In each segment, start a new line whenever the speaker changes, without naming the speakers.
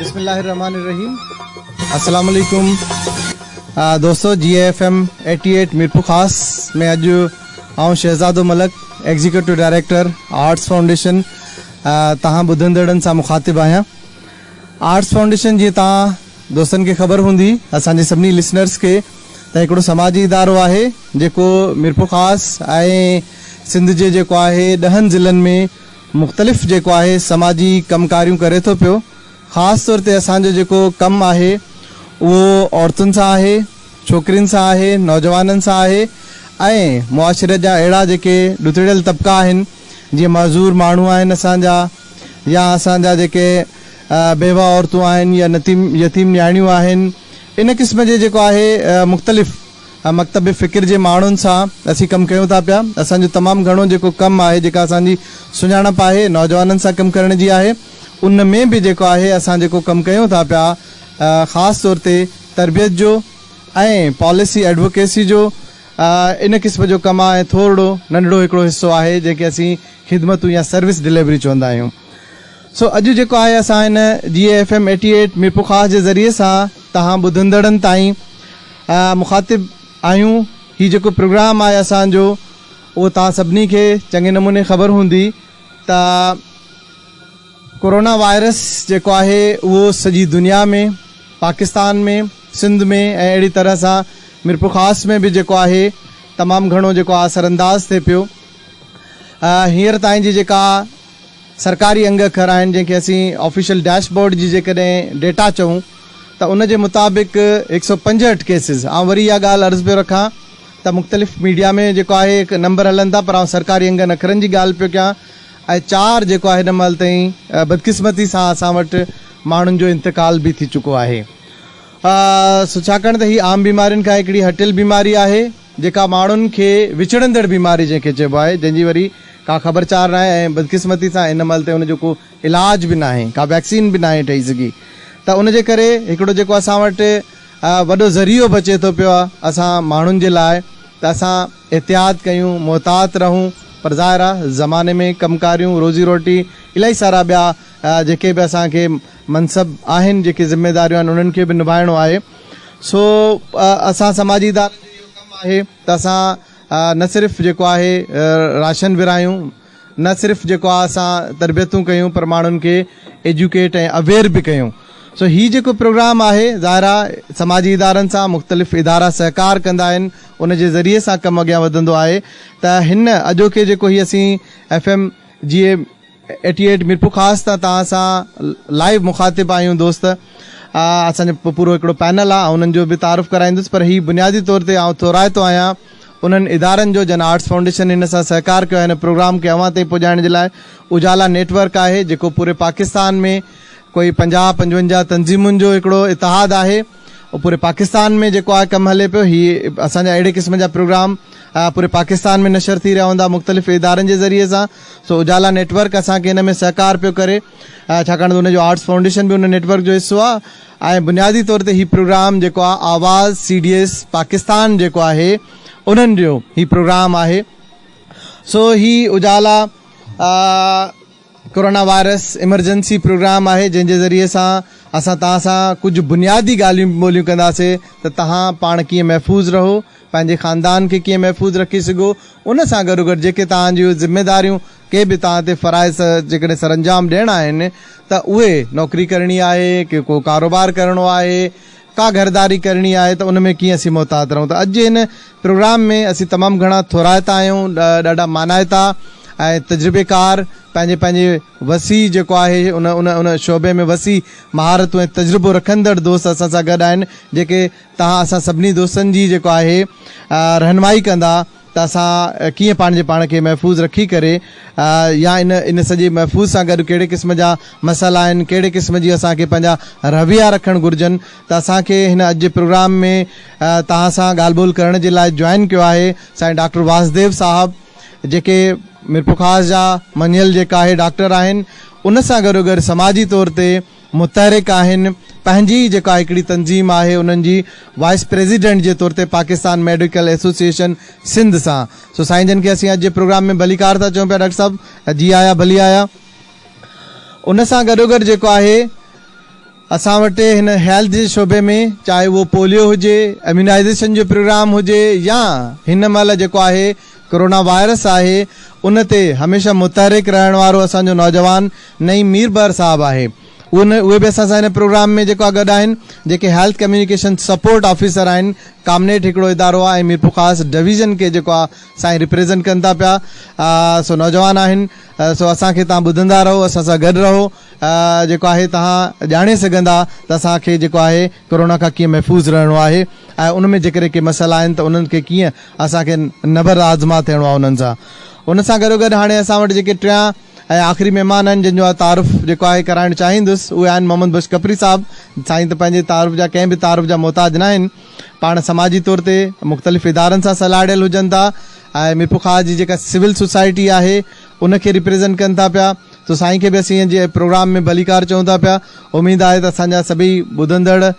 بسم الله الرحمٰن الرحيم السلام عليڪم دوستو جي اي F M eighty eight Mirpurkhas ۾ اڄ آئون Shahzado Malik executive director Arts Foundation توهان ٻڌندڙن سان مخاطب آهيان. آرٽس فائونڊيشن جيئن توهان دوستن کي خبر هوندي اسان جي سڀني لسنرز کي ته هڪڙو سماجي ادارو آهي جيڪو ميرپورخاص ۽ سنڌ جي جيڪو آهي ڏهن ضلعن ۾ مختلف جيڪو آهي سماجي ڪم ڪاريون ڪري ٿو پيو خاص طور تي اسان جو جيڪو ڪم آهي اهو عورتن سان آهي، ڇوڪرين سان آهي، نوجوانن سان آهي ۽ معاشري جا اهڙا جيڪي ڏتڙيل طبقا آهن جيئن معذور ماڻهو آهن اسان جا يا اسان جا جيڪي بيوه عورتون آهن يا نتيم يتيم نياڻيون آهن ان قسم جي جيڪو آهي مختلف مڪتب فڪر جي ماڻهن سان اسين ڪم ڪيون ٿا پيا اسان جو تمام گهڻو جيڪو ڪم آهي جيڪا اسان جي سڃاڻپ آهي نوجوانن سان ڪم ڪرڻ جي آهي. ان ۾ به جيڪو آهي اسان جيڪو ڪم ڪيون ٿا پيا خاص طور تي تربيت جو ۽ پاليسي ايڊووڪيسي جو ان قسم جو ڪم آهي ٿورڙو ننڍڙو هڪڙو حصو آهي جنهن کي اسين خدمتون يا سروس ڊليوري چوندا آهيون سو اڄ جيڪو آهي اسان هن جي اي F M eighty eight Mirpurkhas جي ذريعي سان توهان ٻڌندڙن تائين مخاطب آهيون هي جيڪو پروگرام آهي اسان جو اهو توهان سڀني کي چڱي نموني خبر هوندي ته ڪورونا وائرس جيڪو آهي اهو سڄي دنيا ۾ پاڪستان ۾ سنڌ ۾ ۽ اهڙي طرح سان ميرپورخاص ۾ به جيڪو آهي تمام گهڻو جيڪو آ اثر انداز ٿئي پيو هينئر تائين جي جيڪا سرڪاري انگ اکر آهن جنهن کي اسين آفيشل ڊيش بورڊ جي جيڪڏهن ڊيٽا چئون ته ان جي مطابق هڪ سؤ پنجهٺ ڪيسز آئون وري اها ڳالهه عرض پيو رکان ته مختلف ميڊيا ۾ جيڪو آهي نمبر هلن ٿا پر آئون سرڪاري انگن اکرن جي ڳالهه پيو ڪيان ۽ چار جيڪو هن مهل تائين بدقسمتي سان اسان وٽ ماڻهن جو انتقال به ٿي چڪو آهي سو ڇاڪاڻ ته هي عام بيمارين کان هڪڙي هٽيل بيماري آهي جيڪا ماڻهن کي وچڙندڙ بيماري جنهن کي چئبو آهي جنهن جي وري ڪا خبر چار ناهي ۽ بدقسمتي سان هن مهل تائين ان جو ڪو علاج به ناهي ڪا ويڪسين به ناهي ٺهي سگهي ته ان جي ڪري هڪڙو جيڪو اسان وٽ وڏو ذريعو بچي ٿو پيو اسان ماڻهن جي لاء ته اسان احتياط ڪيون، محتاط رهون، پر ظاهر آ زماني ۾ ڪم ڪاريون، روزي روٽي، الائي سارا ٻيا جيڪي به اسان کي منصب آهن، جيڪي ذميداريون آهن انهن کي به نڀائڻو آهي، سو اسان سماجي ادارن جو اهو ڪم آهي ته اسان نه صرف جيڪو آهي راشن ورهايون، نه صرف جيڪو آ اسان تربيتون ڪيون پر ماڻهن کي ايجوڪيٽ ۽ اويئر به ڪيون سو هي جيڪو پروگرام آهي ظاهر آ سماجي ادارن سان مختلف ادارا سهڪار ڪندا آهن ان جي ذريعي سان ڪم اڳيان وڌندو آهي ته هن اڄوڪي جيڪو هي اسين ايف ايم جي اي ايٽي ايٽ ميرپورخاص تان توهان سان لائيو مخاطب آهيون دوست اسان جو پورو هڪڙو پينل آ آئون انهن جو به تعارف ڪرائيندس پر هي بنيادي طور تي آئون ٿورائتو آهيان انهن ادارن جو جن آرٽس فائونڊيشن هن سان سهڪار ڪيو آهي هن پروگرام کي اوهان تائين پڄائڻ جي لاء اجالا نيٽ ورڪ آهي جيڪو پوري پاڪستان ۾ ڪوئي پنجاهه پنجونجاهه تنظيمن جو هڪڙو اتحاد آهي پوري پاڪستان ۾ جيڪو آهي ڪم هلي پيو هي اسان جا اهڙي قسم جا پروگرام پوري پاڪستان ۾ نشر ٿي رهيا هوندا مختلف ادارن جي ذريعي سان سو اجالا نيٽ ورڪ اسان کي هن ۾ سهڪار پيو ڪري ڇاڪاڻ ته ان جو آرٽس فائونڊيشن به ان نيٽ ورڪ جو حصو آهي ۽ بنيادي طور تي هي پروگرام جيڪو آهي Awaz C D S Pakistan جيڪو آهي انهن جو هي پروگرام آهي سو هي اجالا ڪورونا وائرس ايمرجنسي پروگرام آهي جنهن جي ذريعي سان اسان توهان سان ڪجهه بنيادي ڳالهيون ٻولهيون ڪنداسي ته توهان پاڻ ڪيئن محفوظ رهو پنهنجي خاندان کي ڪيئن محفوظ رکي سگهو ان سان گڏو گڏ جيڪي توهان جون ذميداريون ڪي به توهان تي فرائض جيڪڏهن سرانجام ڏيڻا آهن ته اهي، نوڪري ڪرڻي آهي، ڪي ڪو ڪاروبار ڪرڻو آهي، ڪا گهرداري ڪرڻي آهي ته ان ۾ ڪيئن اسين محتاط رهون ته اڄ جي هن پروگرام ۾ اسين تمام گهڻا ٿورائتا آهيون، ڏاڍا مانائتا ۽ تجربيڪار پنهنجي پنهنجي وسيع جيڪو آهي ان ان ان شعبي ۾ وسيع مهارتون ۽ تجربو رکندڙ دوست اسان سان گڏ آهن جيڪي توهان اسان سڀني دوستن جي جيڪو آهي رهنمائي ڪندا. ته اسان ڪيئن پنهنجي پاڻ کي محفوظ رکي ڪري يا ان ان سڄي محفوظ سان گڏ ڪهڙي قسم جا مسئلا آهن ڪهڙي قسم جي اسان کي پنهنجا رويا رکڻ گهرجن ته اسان کي هن اڄ جي پروگرام ۾ توهان سان ڳالهه ٻولهه ڪرڻ جي لاء جوائن ڪيو آهي سائين ڊاڪٽر واسديو صاحب جيڪي ميرپورخاص جا مڃيل جيڪا آهي ڊاڪٽر آهن ان سان گڏو گڏ سماجي طور تي متحرڪ آهن پنهنجي ئي جيڪا هڪڙي تنظيم آهي انهن جي وائيس پريزيڊنٽ جي طور تي پاڪستان ميڊيڪل ايسوسيئيشن سنڌ سان سو سائين جن کي اسين اڄ جي پروگرام ۾ ڀليڪار ٿا چون پيا ڊاڪٽر صاحب جي آيا ڀلي آيا ان سان گڏوگڏ جيڪو آهي اسان وٽ هن هيلٿ جي شعبي ۾ چاهي اهو پوليو هجي اميونائيزيشن جو پروگرام هجي يا هن مهل جيڪو آهي ڪورونا وائرس آهي ان تي هميشه متحرڪ رهڻ وارو اسان جو نوجوان نعيم مير بحر صاحب آهي ان اهي به اسان سان هن پروگرام ۾ جيڪو آ گڏ آهن جيڪي هيلٿ ڪميونيڪيشن سپورٽ آفيسر آهن ڪامنيٽ هڪڙو ادارو آ ۽ ميرپورخاص ڊويزن کي جيڪو آ سائين ريپريزنٽ ڪن ٿا پيا سو نوجوان آهن سو اسان کي تان ٻڌندا رهو اسان سان گڏ رهو جيڪو آهي تان ڄاڻي سگهندا ته اسان کي جيڪو آهي ڪورونا کان ڪيئن محفوظ رهڻو آهي ۽ ان ۾ جيڪڏهن ڪي مسئلا آهن ته انهن کي ڪيئن اسان کي نبرد آزما ٿيڻو آهي انهن سان. ان سان گڏو گڏ هاڻي اسان وٽ جيڪي ٽيان ۽ آخري مهمان آهن جن جو آء تعارف جيڪو آهي ڪرائڻ چاهيندس اهي آهن محمد بخش کپري صاحب. سائين ته پنهنجي تعارف جا ڪنهن به تعارف جا محتاج ناهن. پاڻ سماجي طور تي مختلف ادارن سان سلهاڙيل هجن ٿا ۽ ميرپورخاص جي جيڪا سول سوسائٽي آهي ان کي ريپريزنٽ ڪن ٿا پيا سو سائين کي به اسين جي پروگرام ۾ ڀليڪار چئون ٿا پيا اميد آهي ته اسان جا سڀئي ٻڌندڙ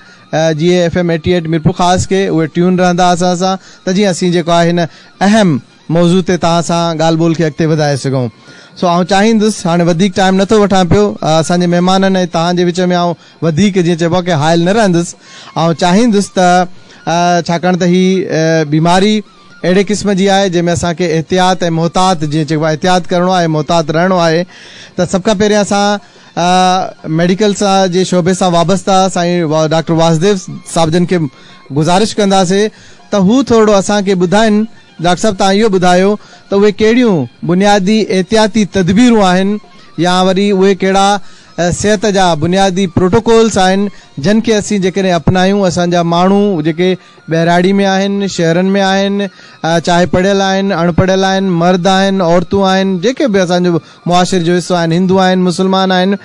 جي F M eighty eight Mirpurkhas کي اهي ٽيون رهندا اسان سان ته جيئن اسين جيڪو آهي هن اهم موضوع تي توهان سان ڳالهه ٻولهه کي اڳتي وڌائي سگهون سو آئون چاهيندس هاڻي وڌيڪ ٽائيم نه ٿو وٺان پيو اسان جي مهمانن ۽ توهان جي وچ ۾ آئون وڌيڪ جيئن چئبو آهي ڪي حائل نه رهندس آئون چاهيندس ته ڇاڪاڻ ته هي بيماري اهڙي قسم جي آهي جنهن ۾ اسان کي احتياط ۽ محتاط جيئن چئبو آهي احتياط ڪرڻو آهي محتاط رهڻو آهي ته سڀ کان پهريان اسان ميڊيڪل سان جي شعبي سان وابسته سائين ڊاڪٽر واسديو صاحب جن کي گذارش ڪنداسي ته هو ٿورڙو اسان کي ٻڌائن ڊاڪٽر صاحب تان اهو ٻڌايو ته اهي ڪهڙيون بنيادي احتياطي تدبيرون آهن يا وري اهي ڪهڙا صحت جا بنيادي پروٽوڪولس آهن جن کي اسين جيڪڏهن اپنايون اسان جا ماڻهو جيڪي ٻهراڙي ۾ آهن، شهرن ۾ آهن، چاهي پڙهيل آهن، اڻ پڙهيل آهن، مرد آهن، عورتون آهن، جيڪي به اسان جي معاشري جو حصو آهن، هندو آهن، مسلمان آهن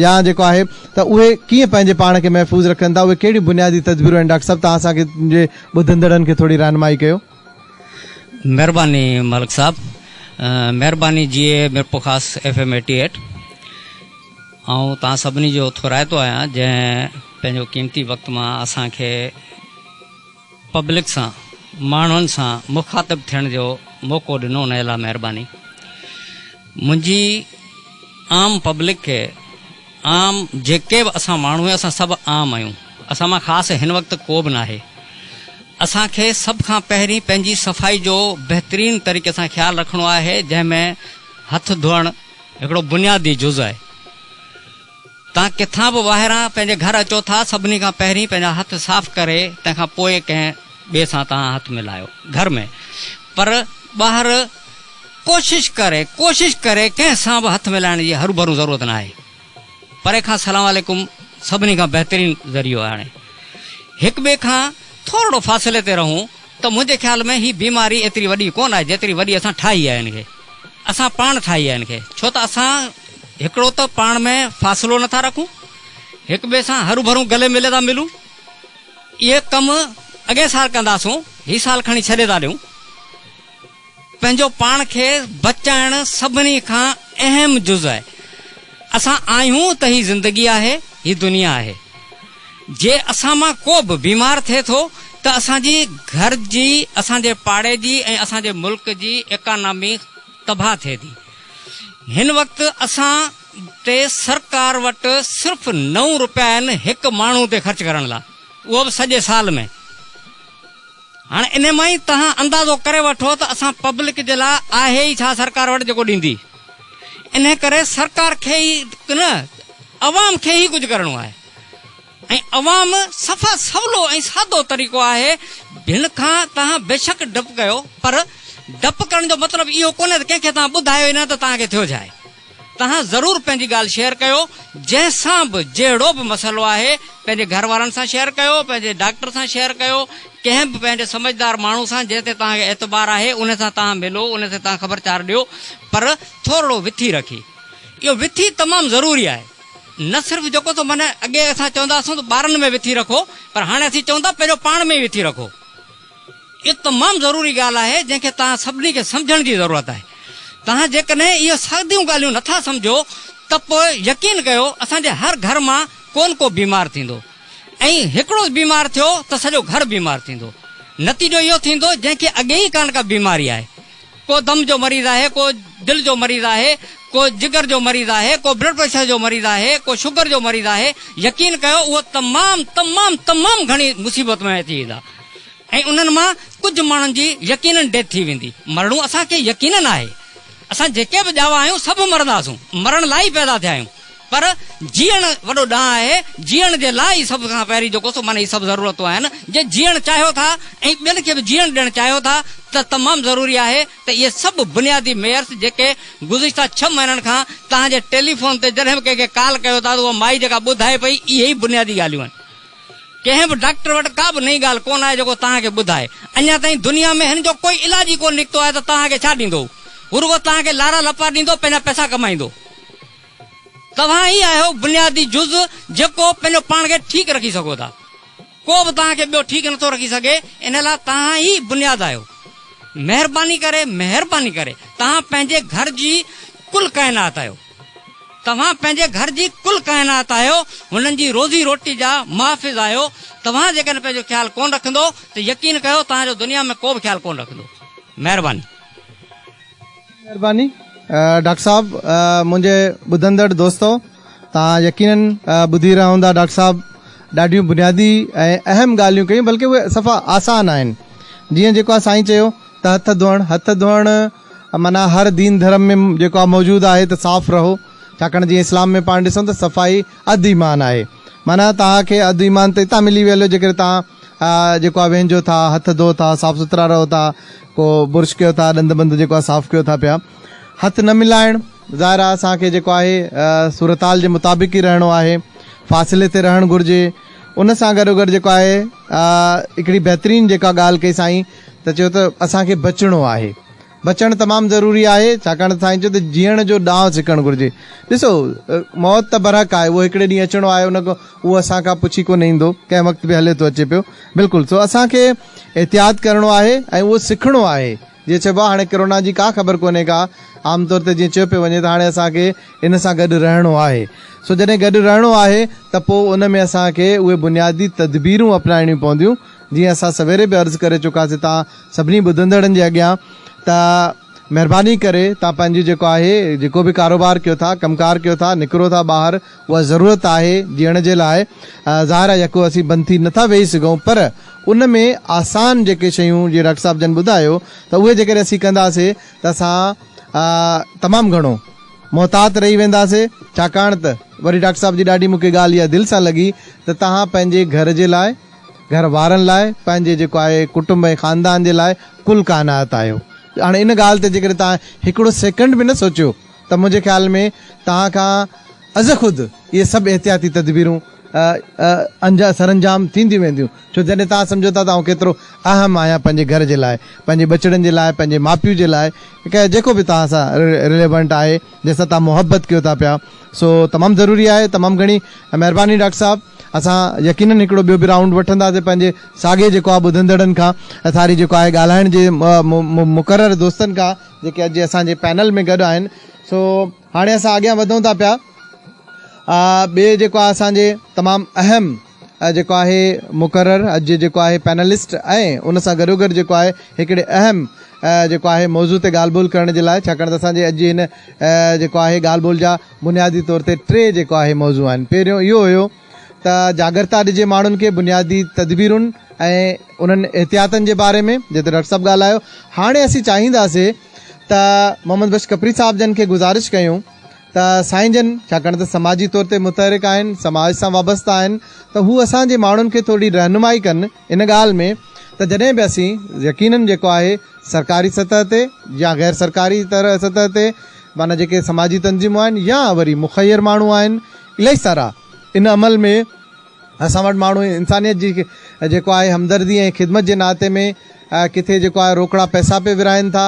يا جيڪو آهي ته اهي ڪيئن پنهنجي پاڻ کي محفوظ رکن ٿا، اهي ڪهڙيون بنيادي تدبيرون آهن ڊاڪٽر صاحب توهان اسان کي جي ٻڌندڙن کي ٿوري رهنمائي ڪيو.
مھرباني ملڪ صاحب مھرباني جيئي Mirpurkhas F M eighty eight. آئون توهان سڀني جو ٿورائتو آهيان جنهن پنهنجو قيمتي وقت مان اسان کي پبلڪ سان ماڻهن سان مخاطب ٿيڻ جو موقعو ڏنو انهي لاء مهرباني منهنجي عام پبلڪ کي عام جيڪي به اسان ماڻهو آهيون اسان سڀ عام آهيون اسان مان خاص هن وقت ڪو به ناهي اسان کي سڀ کان پهرين پنهنجي صفائي جو بهترين طريقي سان خيال رکڻو آهي جنهن ۾ هٿ ڌوئڻ هڪڙو بنيادي جز آهي. توهان ڪٿان به ٻاهران پنهنجي گهر اچو ٿا، سڀني کان پهرين پنهنجا هٿ صاف ڪري تنهن کان پوء ڪنهن ٻئي سان توهان هٿ ملايو. گهر ۾ پر ٻاهر ڪوشش ڪري ڪوشش ڪري ڪنهن سان به هٿ ملائڻ جي هرونڀرون ضرورت ناهي. پري کان سلام عليڪم سڀني کان بهترين ذريعو آهي هاڻي هڪ ٻئي کان ٿورڙو فاصلي تي رهون ته منهنجي خيال ۾ هي بيماري ايتري وڏي ڪونه آهي جيتري وڏي اسان ٺاهي آهي هن کي اسان پاڻ ٺاهي آهي هن کي ڇو ته اسان هڪڙو ته پاڻ ۾ فاصلو نٿا رکون هڪ ٻئي سان هرون ڀرون گلي ملي ٿا ملون اهي ڪم اڳئين سال ڪنداسون هي سال کڻي ڇڏي ٿا ڏيون. پنهنجو پاڻ کي بچائڻ سڀني کان اهم جز آهي. اسان آهيون ته هي زندگي آهي، هي دنيا آهي. جي اسان مان ڪو به بيمار ٿئي ٿو ته اسان جي گهر جي، اسان جي پاڙي جي ۽ اسان جي ملڪ جي ايڪانامي تباهه ٿئي ٿي. هن وقت اسان تي سرڪار وٽ صرف نو روپيا آهن هڪ ماڻهو تي خرچ ڪرڻ لاء، اهو به سڄي سال ۾. هاڻ انهي مان ئي توهان اندازو ڪري وٺو ته اسان پبلڪ جي لاء آهي ئي ڇا سرڪار وٽ جيڪو ڏيندي. انهي ڪري سرڪار کي ئي نه عوام کي ئي ڪجهه ڪرڻو آهي ۽ عوام صفا سولو ۽ سادو طريقو آهي جنهن کان توهان بيشڪ ڊپ ڪيو پر ڊپ ڪرڻ جو مطلب اهو ڪونهي ته ڪنهن کي توهان ٻڌايو ئي نه ته توهان کي ٿيو ڇا آهي. توهان ضرور پنهنجي ڳالهه شيئر ڪيو جنهن سان به جهڙو به مسئلو آهي پنهنجي گهر وارن سان شيئر ڪيو پنهنجي ڊاڪٽر سان شيئر ڪيو ڪنهن به پنهنجي سمجهدار ماڻهو سان جنهن تي توهان کي اعتبار آهي ان سان توهان ملو ان تي توهان خبر چار ڏيو پر ٿورڙو وٿي رکي اهو وٿي تمام ضروري آهي نه صرف جيڪو تو معنيٰ اڳي اسان چوندا اسون ته ٻارن ۾ وٿي رکو پر هاڻي اسين چون ٿا پهريون پاڻ ۾ ئي وٿي رکو. اهو تمام ضروري ڳالهه آهي جنهن کي توهان سڀني کي سمجهڻ جي ضرورت آهي. توهان جيڪڏهن اهي ساديون ڳالهيون نه ٿا سمجهو ته پوء يقين ڪيو اسان جي هر گهر مان ڪو نه ڪو بيمار ٿيندو ۽ هڪڙو بيمار ٿيو ته سڄو گهر بيمار ٿيندو. نتيجو اهو ٿيندو جنهن کي اڳي ئي ڪا نه ڪا بيماري آهي. ڪو دم جو مريض آهي، ڪو دل جو مريض آهي، ڪو جگر جو مريض آهي، ڪو بلڊ پريشر جو مريض آهي، ڪو شگر جو مريض آهي. يقين ڪيو اهي تمام تمام تمام گهڻي مصيبت ۾ اچي ويندا. ۽ انهن مان ڪجهه ماڻهن جي يقينن ڊيٿ ٿي ويندي. مرڻو اسان کي يقينن آهي. اسان جيڪي به ڄاوا آهيون سڀ مرنداسون. مرڻ لاء ئي پيدا ٿيا آهيون. پر جيئڻ وڏو ڏانء آهي. جيئڻ جي لاء ئي سڀ کان پهرين جيڪو سو معنيٰ هي سڀ ضرورتون آهن. جي جيئڻ چاهيو ٿا ۽ ٻين کي به جيئڻ ڏيڻ چاهيو ٿا ته تمام ضروري آهي ته اهي سڀ بنيادي معيرس جيڪي گذشته ڇهه مهينن کان توهان جي ٽيليفون تي جڏهن به ڪنهن کي ڪال ڪيو ٿا ته اها مائي جيڪا ٻڌائي پئي اهي ئي بنيادي ڳالهيون آهن. ڪنهن به ڊاڪٽر وٽ ڪا به نئين ڳالهه ڪونه آهي جيڪو توهان کي ٻڌائي. اڃا تائين دنيا ۾ هن جو ڪوئي علاج ئي ڪونه نڪتو آهي ته توهان کي ڇا ڏيندو؟ هو رڳو توهان کي لارا لپا ڏيندو، پنهنجا پئسا ڪمائيندو. توهان ئي آهيو بنيادي جز جيڪو پنهنجو پاڻ کي ٺيڪ رکي سگهو ٿا. ڪو به توهان کي ٻيو ٺيڪ نٿو رکي سگهي، ان لاء توهان ئي بنياد آهيو. مهرباني ڪري، مهرباني ڪري توهان پنهنجي گهر جي ڪل ڪائنات آهيو. توهان پنهنجي گهر جي ڪل ڪائنات آهيو، هنن جي روزي روٽي جا محافظ آهيو، توهان جيڪڏهن پنهنجو خيال ڪونه رکندو ته يقين ڪيو توهان جو دنيا ۾ ڪو به خيال ڪونه رکندو. مهرباني. مهرباني
ڊاڪٽر صاحب منهنجي ٻڌندڙ دوستو توهان يقينن ٻڌي رهيا هوندا ڊاڪٽر صاحب ڏاڍيون بنيادي ۽ اهم ڳالهيون ڪيون بلڪه اهي صفا آسان آهن جيئن جيڪو آهي سائين چيو ته هٿ ڌوئڻ هٿ ڌوئڻ معنيٰ هر دين ڌرم ۾ جيڪو آ موجود آهي ته صاف رهو ڇاڪاڻ جيئن اسلام ۾ پاڻ ڏسون ته صفائي اڌ ايمان آهي معنيٰ توهان کي اڌ ايمان ته اتان ملي ويل جيڪڏهن توهان جيڪو آ وينجهو ٿا هٿ ڌو ٿا صاف سٿرا رهو ٿا ڪو برش ڪيو ٿا ڏند بند جيڪو آ صاف ڪيو ٿا پيا هٿ نه ملائڻ ظاهر آ اسان کي جيڪو آهي صورتحال جي مطابق ئي رهڻو آهي فاصلي تي رهڻ گهرجي ان سان گڏو گڏ جيڪو آهي هڪڙي بهترين جيڪا ڳالهه ڪئي سائين ته چيو ته اسان کي بچڻو آهي. بچڻ تمام ضروري آهي، ڇاڪاڻ ته سائين چيو ته جيئڻ جو ڏانء سکڻ گهرجي. ڏسو، موت ته برحق آهي، اهو هڪڙي ڏينهن اچڻو آهي، ان کان اهو اسان کان پڇي ڪونه ايندو، ڪنهن وقت به هلي ٿو اچي پيو. بلڪل، سو اسان کي احتياط ڪرڻو آهي ۽ اهو سکڻو آهي. جيئن چئبو آهي هاڻي ڪرونا جي ڪا خبر ڪونهي ڪا، عام طور تي جيئن چيو پيو وڃي ته هاڻي اسان کي ان سان گڏ رهڻو آهي. سو جڏهن گڏ رهڻو آهي ته پوء ان ۾ اسان کي اهي بنيادي تدبيرون اپنائڻيون پونديون، جيئن اسان سويري به عرض ڪري چڪاسين توهان سڀني ٻڌندڙن جي اڳيان ته مهرباني ڪري توهان پنهنجي جيڪو آهي جيڪو به ڪاروبار ڪيو ٿا ڪم ڪار ڪيو ٿا نڪرو ٿا ٻاهر اها ضرورت آهي جيئڻ جي لاء ظاهر آهي يڪو اسين بند ٿي نٿا ويهي سگهون پر ان ۾ آسان جيڪي شيون جيئن ڊاڪٽر صاحب جن ٻڌايو ته اهي جيڪڏهن اسين ڪنداسين ته اسان تمام گهڻو محتاط رهي وينداسين ڇاڪاڻ ته وري ڊاڪٽر صاحب جي ڏاڍي مونکي ڳالهه اها دل سان لڳي ته توهان پنهنجي گهر جي لاء گهر وارن لاء پنهنجي جيڪو آهي ڪٽنب ۽ خاندان جي لاء ڪل ڪائنات آهيو. هاڻي ان ڳالهه تي جيڪڏهن توهان هڪڙو سيڪنڊ به نه سوچيو ته منهنجي خيال ۾ توهان کان از خود اهي سڀ احتياطي تدبيرون سرانجام ٿينديون وينديون ڇو جڏهن توهان سمجهو ٿا ته آئون ڪيترو اهم آهيان پنهنجي گهر جي لاء، پنهنجي ٻچڙن جي لاء، پنهنجي ماء پيء جي لاء ڪنهن جيڪو به توهان سان رليونٽ آهي جنهن سان توهان محبت ڪيو ٿا پيا سو تمام ضروري آهي. تمام گهڻي مهرباني ڊاڪٽر صاحب. اسان يقينن هڪڙو ٻيو به رائونڊ وٺنداسين پنهنجي ساڳئي جيڪو آهي ٻڌندڙن کان ۽ ساري جيڪو آهي ڳالهائڻ جي مقرر دوستن کان جيڪي اڄ اسان جي پينل ۾ گڏ آهن سو هاڻي اسان اڳيان وڌون ٿا پيا ٻي جيڪو آهي اسان جي تمام اهم جيڪو آهي مقرر اڄ جيڪو آهي پينلسٽ ۽ ان سان گڏو گڏ جيڪو آهي هڪڙي اهم جيڪو آهي موضوع تي ڳالهه ٻولهه ڪرڻ جي لاء ڇاڪاڻ ته اسان جي اڄ جي هن جيڪو آهي ڳالهه ٻولهه جا بنيادي طور تي ٽي جيڪو آهي موضوع آهن پهريون اهو هيو ته جاڳرتا ڏجي ماڻهن کي بنيادي تدبيرن ۽ انهن احتياطن جي باري ۾ جنهن تي ڊاڪٽر صاحب ڳالهايو هاڻي اسين چاهينداسي ته محمد بخش کپري صاحب جن کي گذارش ڪيون ته سائين جن ڇاڪاڻ ته سماجي طور تي متحرڪ آهن سماج سان وابسته آهن ته هو اسان جي ماڻهن کي ٿورڙي رهنمائي ڪن ان ڳالهه ۾ ته جڏهن به اسين يقينن جيڪو آهي سرڪاري سطح تي يا غير سرڪاري طرح سطح تي معنيٰ جيڪي سماجي تنظيمون آهن يا وري مخير ماڻهو آهن الائي سارا ان عمل ۾ اسان وٽ ماڻهو انسانيت جي جيڪو آهي همدردي ۽ خدمت جي ناتي ۾ ڪٿي جيڪو آهي روڪڙا پئسا پي ورهائن ٿا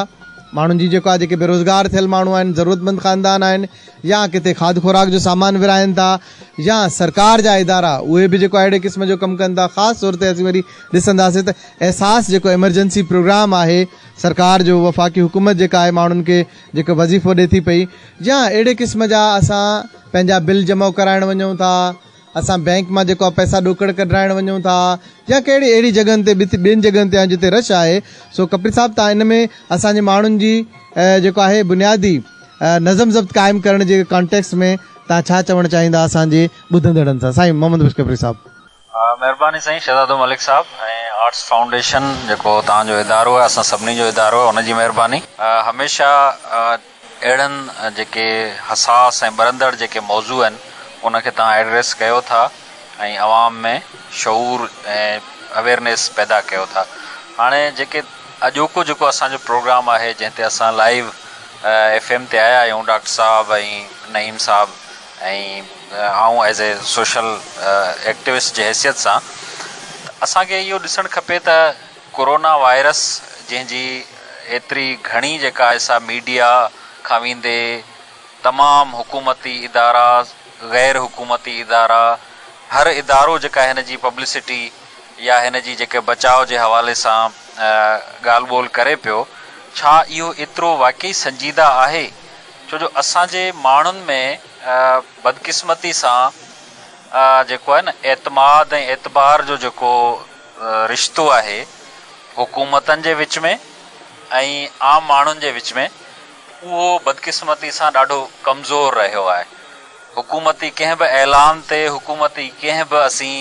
ماڻهن جي جيڪو آهي جيڪي بيروزگار ٿيل ماڻهو آهن ضرورت مند خاندان آهن يا ڪٿي کاڌ خوراڪ جو سامان ورهائن ٿا يا سرڪار جا ادارا اهي به جيڪو اهڙي قسم جو ڪم ڪن ٿا خاص طور تي اسين وري ڏسنداسين ته احساس جيڪو ايمرجنسي پروگرام آهي سرڪار جو وفاقي حڪومت جيڪا آهي ماڻهن کي جيڪو وظيفو ڏي ٿي پئي يا اهڙي قسم جا اسان پنهنجا بل جمع ڪرائڻ وڃون ٿا اسان بئنڪ مان جيڪو آ پئسا ڏوڪڙ ڪڍرائڻ وڃون ٿا يا ڪهڙي اهڙي جڳهن تي به ٻين جڳهن تي آهيون جتي رش آهي سو ڪپڙي صاحب تان ان ۾ اسان جي ماڻهن جي جيڪو آهي بنيادي نظم ضبط قائم ڪرڻ جي ڪانٽيڪس ۾ تان ڇا چوڻ چاهيندا اسان جي ٻڌندڙن سان سائين محمد بخش ڪپڙي صاحب. مهرباني سائين
شهزادو ملڪ صاحب ۽ آرٽس فائونڊيشن جيڪو توهان جو ادارو آهي اسان سڀني جو ادارو آهي ان جي مهرباني هميشه اهڙن جيڪي حساس ۽ ٻرندڙ جيڪي موضوع آهن ان کي توهان ايڊريس ڪيو ٿا ۽ عوام ۾ شعور ۽ اويرنيس پيدا ڪيو ٿا هاڻي جيڪي اڄوڪو جيڪو اسان جو پروگرام آهي جنهن تي اسان لائيو ايف ايم تي آيا آهيون ڊاڪٽر صاحب ۽ نعيم صاحب ۽ آئون ايز اي سوشل ايڪٽوسٽ جي حيثيت سان ته اسان کي اهو ڏسڻ کپي ته ڪورونا وائرس جنهن جي ايتري گهڻي جيڪا سا ميڊيا کان ويندي تمام حڪومتي ادارا غير حڪومتي ادارا هر ادارو جيڪا هن جي پبلسٽي يا هن جي جيڪي بچاء جي حوالي سان ڳالهه ٻولهه ڪري پيو ڇا اهو ايترو واقعي سنجيده آهي ڇو جو اسان جي ماڻهن ۾ بدقسمتي سان جيڪو آهي نه اعتماد ۽ اعتبار جو جيڪو رشتو آهي حڪومتن جي وچ ۾ ۽ عام ماڻهن جي وچ ۾ اهو بدقسمتي سان ڏاڍو ڪمزور رهيو آهي حڪومتي ڪنهن به اعلان تي حڪومتي ڪنهن به اسين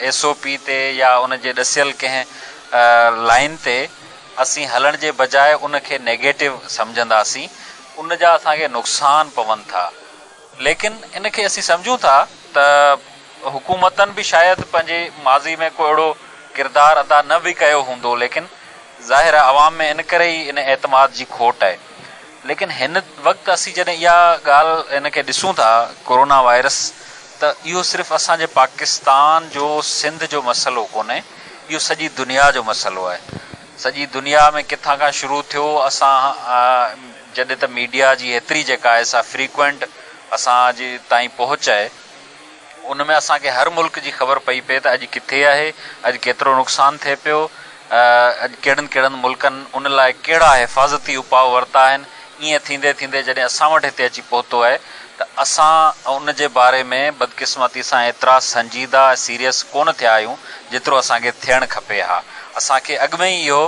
ايس او پي تي يا ان جي ڏسيل ڪنهن لائين تي اسين هلڻ جي بجاء ان کي نيگيٽو سمجهندا سين ان جا اسان کي نقصان پون ٿا. ليڪن ان کي اسين سمجهون ٿا ته حڪومتن به شايد پنهنجي ماضي ۾ ڪو اهڙو ڪردار ادا نه به ڪيو هوندو ليڪن ظاهر آهي عوام ۾ ان ڪري ئي ان اعتماد جي کوٽ آهي ليڪن هن وقت اسين جڏهن اها ڳالهه ان کي ڏسون ٿا ڪورونا وائرس ته اهو صرف اسان جي پاڪستان جو سنڌ جو مسئلو ڪونهي اهو سڄي دنيا جو مسئلو آهي. سڄي دنيا ۾ ڪٿان کان شروع ٿيو اسان جڏهن ته ميڊيا جي ايتري جيڪا آهي سا فريڪوئنٽ اسان جي تائين پهچ آهي ان ۾ اسان کي هر ملڪ جي خبر پئي پئي ته اڄ ڪٿي آهي اڄ ڪيترو نقصان ٿئي پيو اڄ ڪهڙن ڪهڙن ملڪن ان لاء ڪهڙا حفاظتي اپاء ورتا آهن ائين ٿيندي ٿيندي جڏهن اسان وٽ هتي اچي پهتو آهي ته اسان ان جي باري ۾ بدقسمتي سان ايترا سنجيده ۽ سيريس ڪونه ٿيا آهيون جيترو اسان کي ٿيڻ کپي ها. اسان کي اڳ ۾ ئي اهو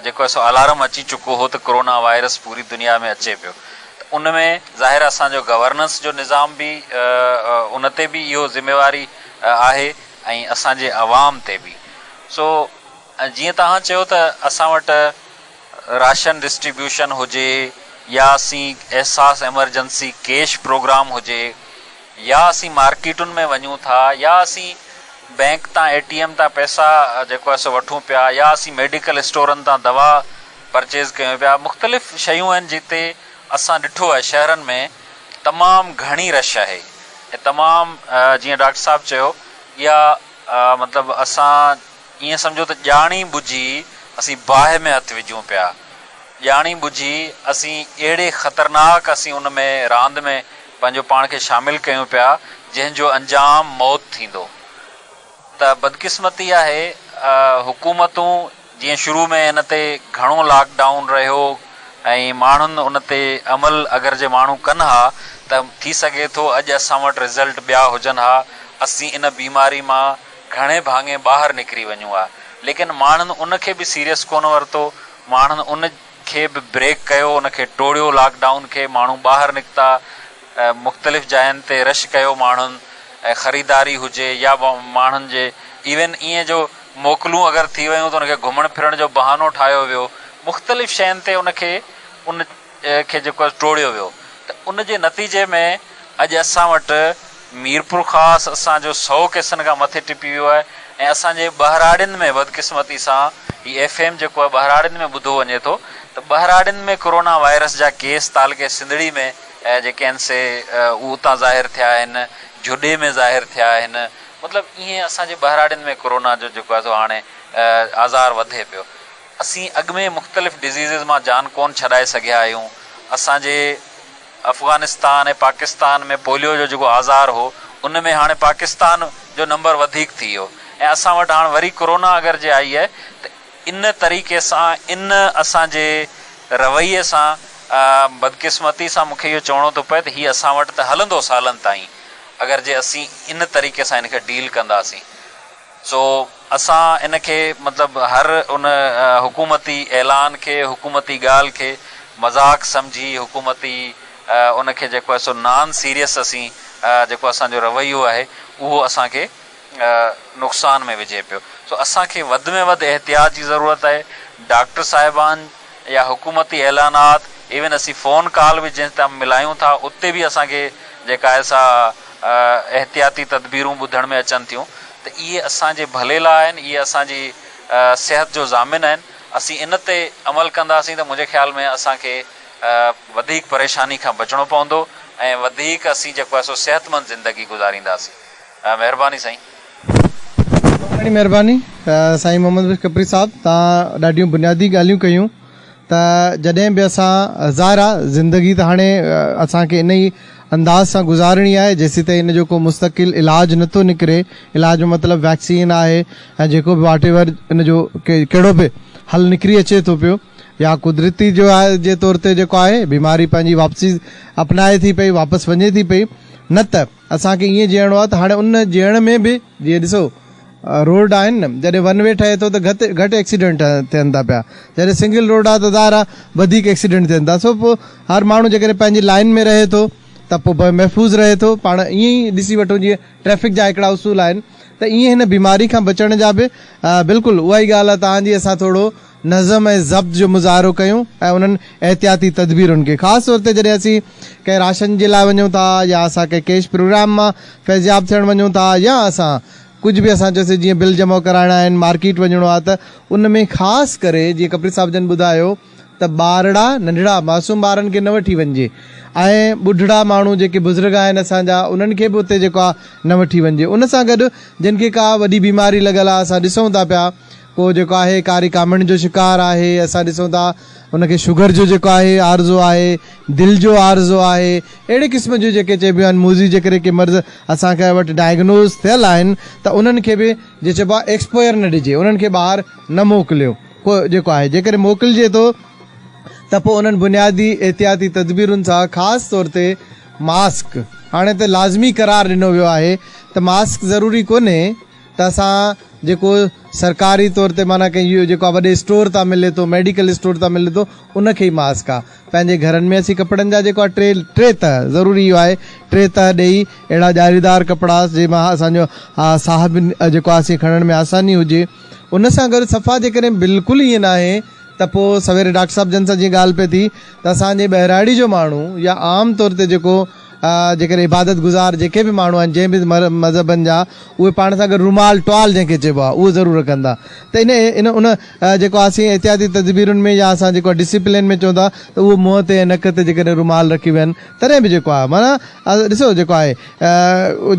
جيڪو سو الارم اچي چڪو هو ته ڪورونا وائرس پوري دنيا ۾ اچي پيو ته ان ۾ ظاهر اسان جو گورننس جو نظام به ان تي به اهو ذميواري آهي ۽ اسان جي عوام تي به سو ۽ جيئن توهان چيو ته اسان وٽ راشن ڊسٽريبيوشن هجي يا اسين احساس ايمرجنسي ڪيش پروگرام هجي يا اسين مارڪيٽن ۾ وڃون ٿا يا اسين بينڪ تان اي ٽي ايم تان پئسا جيڪو آهي سو وٺون پيا يا اسين ميڊيڪل اسٽورن تان دوا پرچيز ڪيون پيا مختلف شيون آهن جتي اسان ڏٺو آهي شهرن ۾ تمام گهڻي رش آهي ۽ تمام جيئن ڊاڪٽر صاحب چيو يا مطلب اسان ائين سمجهو ته ڄاڻي ٻجهي اسين باهه ۾ هٿ وجهون پيا. ڄاڻي ٻجهي اسين اهڙي خطرناڪ اسين ان ۾ راند ۾ پنهنجو پاڻ کي شامل ڪيون پيا جنهن جو انجام موت ٿيندو. ته بدقسمتي آهي حڪومتون جيئن شروع ۾ ان تي گهڻو لاڪ ڊائون رهيو ۽ ماڻهن ان تي عمل اگر جي ماڻهو ڪن ها ته ٿي سگهي ٿو اڄ اسان وٽ رزلٽ ٻيا هجن ها اسين ان بيماري مان گهڻي ڀاڱي ٻاهر نڪري وڃون ها ليڪن ماڻهن ان کي به سيريس ڪونه ورتو ماڻهن ان کي به بريڪ ڪيو ان کي ٽوڙيو لاڪ ڊائون کي ماڻهو ٻاهر نڪتا مختلف جاين تي رش ڪيو ماڻهن خريداري هجي يا ماڻهن جي ايون ائين جو موڪلون اگر ٿي ويون ته ان کي گهمڻ ڦرڻ جو بهانو ٺاهيو ويو مختلف شين تي ان کي ان کي جيڪو آهي ٽوڙيو ويو ته ان جي نتيجي ۾ اڄ اسان وٽ ميرپورخاص اسان جو سؤ ڪيسن کان مٿي ٽپي ويو آهي ۽ اسان جي ٻهراڙين ۾ بدقسمتي سان هي ايف ايم جيڪو آهي ٻهراڙين ۾ ٻڌو وڃي ٿو ته ٻهراڙين ۾ ڪورونا وائرس جا ڪيس تعلقي سنڌڙي ۾ جيڪي آهن سي اهو اتان ظاهر ٿيا آهن جهڏي ۾ ظاهر ٿيا آهن مطلب ائين اسان جي ٻهراڙين ۾ ڪورونا جو جيڪو آهي سو هاڻي آزار وڌي پيو اسين اڳ ۾ مختلف ڊزيزز مان جان ڪون ڇڏائي سگهيا آهيون. اسان جي افغانستان ۽ پاڪستان ۾ پوليو جو جيڪو آزار هو ان ۾ هاڻي پاڪستان جو نمبر وڌيڪ ٿي ويو ۽ اسان وٽ هاڻ وري ڪورونا اگر جي آئي آهي ته ان طريقي سان ان اسان جي رويي سان بدقسمتي سان مونکي اهو چوڻو ٿو پئي ته هي اسان وٽ ته هلندو سالن تائين اگر جي اسين ان طريقي سان ان کي ڊيل ڪنداسين. سو اسان ان کي مطلب هر ان حڪومتي اعلان کي، حڪومتي ڳالهه کي مذاق سمجهي حڪومتي ان کي جيڪو آهي سو نان سيريس اسين جيڪو اسان جو رويو آهي اهو اسان کي نقصان ۾ وجهي پيو سو اسان کي وڌ ۾ وڌ احتياط جي ضرورت آهي ڊاڪٽر صاحبان يا حڪومتي اعلانات ايون اسين فون ڪال به جنهن تان ملايون ٿا اتي به اسان کي جيڪا آهي سا احتياطي تدبيرون ٻڌڻ ۾ اچن ٿيون ته اهي اسان جي ڀلي لاء آهن اهي اسان جي صحت جو ضامن آهن اسين ان تي عمل ڪنداسين ته منهنجي خيال ۾ اسان کي وڌيڪ پريشاني کان بچڻو پوندو ۽ وڌيڪ اسين جيڪو آهي سو صحتمند زندگي گذارينداسين. مهرباني
سائين. تمام گهڻي مهرباني سائين محمد بخش کپري صاحب توهان ڏاڍيون بنيادي ڳالهيون ڪيون ته جڏهن به اسان ظاهر آ زندگي ته هاڻي اسان کي انهي انداز سان گذارڻي آهي جيسيتائين ان جو ڪو مستقل علاج نه ٿو نڪري علاج جو مطلب ويڪسين آهي ۽ جيڪو به واٽ ايور ان جو ڪهڙو به حل نڪري اچي ٿو پيو يا قدرتي جو آهي جي طور تي جيڪو آهي بيماري پنهنجي واپسي اپنائي ٿي پئي واپس وڃي ٿي پئي نه ته اسان کي ائين جيئڻو آهي ته هاڻي ان جيئڻ ۾ به جيئن ڏسو روڊ آهن نه جڏهن ون وي ٺهي ٿو ته گهٽ گهٽ ايڪسيڊنٽ ٿين ٿا پيا جڏهن سنگل روڊ آهي ته ظاهر آهي وڌيڪ ايڪسيڊنٽ ٿين ٿا سو پوء هر ماڻهو جيڪڏهن پنهنجي لائين ۾ رهي ٿو ته پوء به محفوظ رهي ٿو پاڻ ائين ئي ڏسي وٺو جيئن ٽريفڪ جا هڪڙا اصول آهن ته ائين هن بيماري کان بچڻ جا به بلڪل اها ئي ڳالهه آهي تهان جي اسان ٿورو نظم ۽ ضبط جو مظاهرو ڪيون ۽ انهن احتياطي تدبيرن کي خاص طور تي جڏهن اسين ڪنهن راشن جي لاء وڃون ٿا يا اسان ڪنهن ڪيش پروگرام مان فيضياب ٿيڻ وڃون ٿا يا اسان ڪجهه به اسان چيوسين جيئن بل جمع ڪرائڻا آهن مارڪيٽ وڃڻو آهي ته ان ۾ خاص ڪري جيئن کپري صاحب جن ٻڌايو ته ٻارڙا ننڍڙا معصوم ٻارن کي نه وٺي وڃجي ۽ ٻڍڙا ماڻهو جيڪي بزرگ آهن اسان جا انهن کي به اتي جيڪو آهي نه وٺي وڃجي ان سان گڏ جن کي ڪا وڏي بيماري لڳل آهي اسان ڏسون ٿا پيا ڪو جيڪو آهي ڪاري ڪامڻ جو شڪار آهي اسان ڏسون ٿا ان کي شگر جو جيڪو آهي عارضو آهي دل جو عارضو آهي اهڙي قسم جون جيڪي چئبيون آهن موذي جيڪڏهن ڪي مرض اسان کي وٽ ڊائگنوز ٿيل آهن ته انهن کي به جي چئبو آهي ايڪسپوئر نه ڏجي انهن کي ٻاهر نه موڪليو ڪو جيڪو آهي جيڪڏهن موڪلجي ٿو ته پوء انهن بنيادي احتياطي تدبيرن سان خاص طور تي ماسڪ هاڻي ته لازمي قرار ڏنو ويو آهي ته ماسڪ ضروري ڪونهي ته اسان جيڪو سرڪاري طور تي معنيٰ ڪنهن اهو جيڪو وڏي اسٽور تان ملي ٿو ميڊيڪل اسٽور تان ملي ٿو ان کي ئي ماسڪ آ پنهنجي گهرن ۾ اسين ڪپڙن جا جيڪو آ ٽي ٽي تهه ضروري اهو آهي ٽي تهه ڏئي اهڙا ڄاريدار ڪپڙا جنهن مان اسان جو ساهه به جيڪو آ سي کڻڻ ۾ آساني هجي ان سان گڏ صفا جيڪڏهن بلڪل ائين ناهي ته پو سويري ڊاڪٽر صاحب جن سان جيئن ڳالهه پئي ٿي ته اسان جي ٻهراڙي جو ماڻهو يا عام طور تي جيڪو جيڪڏهن عبادت گذار جيڪي به ماڻهو آهن جنهن به مذهبن جا اهي پاڻ سان گڏ رومال، ٽوال جنهن کي چئبو آهي اهو ضرور رکندا ته ان ان ان جيڪو اسين احتياطي تدبيرن ۾ يا اسان جيڪو ڊسيپلين ۾ چئون ٿا ته اهو منهن تي ۽ نڪ تي جيڪڏهن رومال رکي ويهن تڏهن به جيڪو آهي معنيٰ ڏسو جيڪو آهي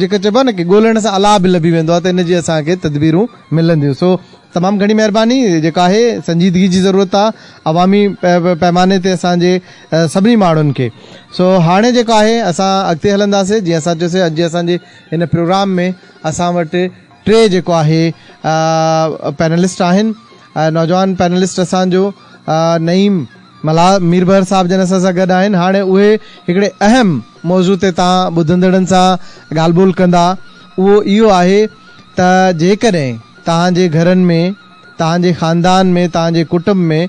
جيڪو چئبو آهي نه ڳولڻ سان الاء به لڀي ويندو آهي ته ان جي اسان کي تدبيرون ملنديون سو تمام گهڻي مهرباني جيڪا آهي سنجيدگي جي ضرورت آهي عوامي پيماني تي اسان جي سڀني ماڻهن کي سو هاڻي جيڪا آهي اسان اڳتي هلنداسي جيئن اسان چيو سي اڄ جي اسان جي هن پروگرام ۾ اسان وٽ ٽي جيڪو آهي پينلسٽ آهن نوجوان پينلسٽ اسان جو نعيم ملا مير بحر صاحب جن اسان سان گڏ آهن هاڻي اهي هڪڙي اهم موضوع تي تان ٻڌندڙن سان ڳالهه ٻولهه ڪندا اهو اهو آهي ته جيڪڏهن توهان جي گهرن ۾، توهان جي خاندان ۾، توهان جي ڪٽنب ۾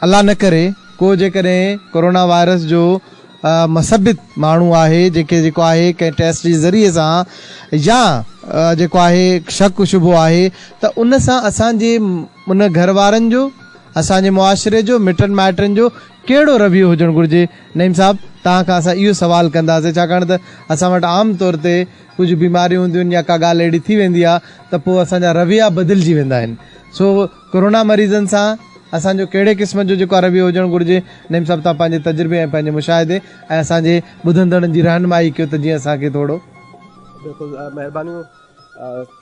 الله نه ڪري ڪو جيڪڏهن ڪورونا وائرس جو مثبت ماڻهو آهي جيڪي جيڪو آهي ڪنهن ٽيسٽ جي ذريعي سان يا جيڪو آهي شڪ شبهو آهي ته ان سان اسان جي ان گهر وارن جو اسان جي معاشري جو مٽن مائٽن جو ڪهڙو رويو هجڻ گهرجي نعيم صاحب توهان کان اسان اهو سوال ڪنداسين ڇاڪاڻ ته اسان وٽ عام طور تي ڪجهه بيماريون هونديون آهن يا ڪا ڳالهه اهڙي ٿي ويندي آهي ته پوء اسان جا رويا بدلجي ويندا آهن سو ڪورونا مريضن سان اسان جو ڪهڙي قسم جو جيڪو رويو هجڻ گهرجي نعيم صاحب تان پنهنجي تجربي ۽ پنهنجي مشاهدي ۽ اسان جي ٻڌندڙن جي رهنمائي ڪيو ته جيئن اسان کي ٿورو. بلڪل
مهربانيون.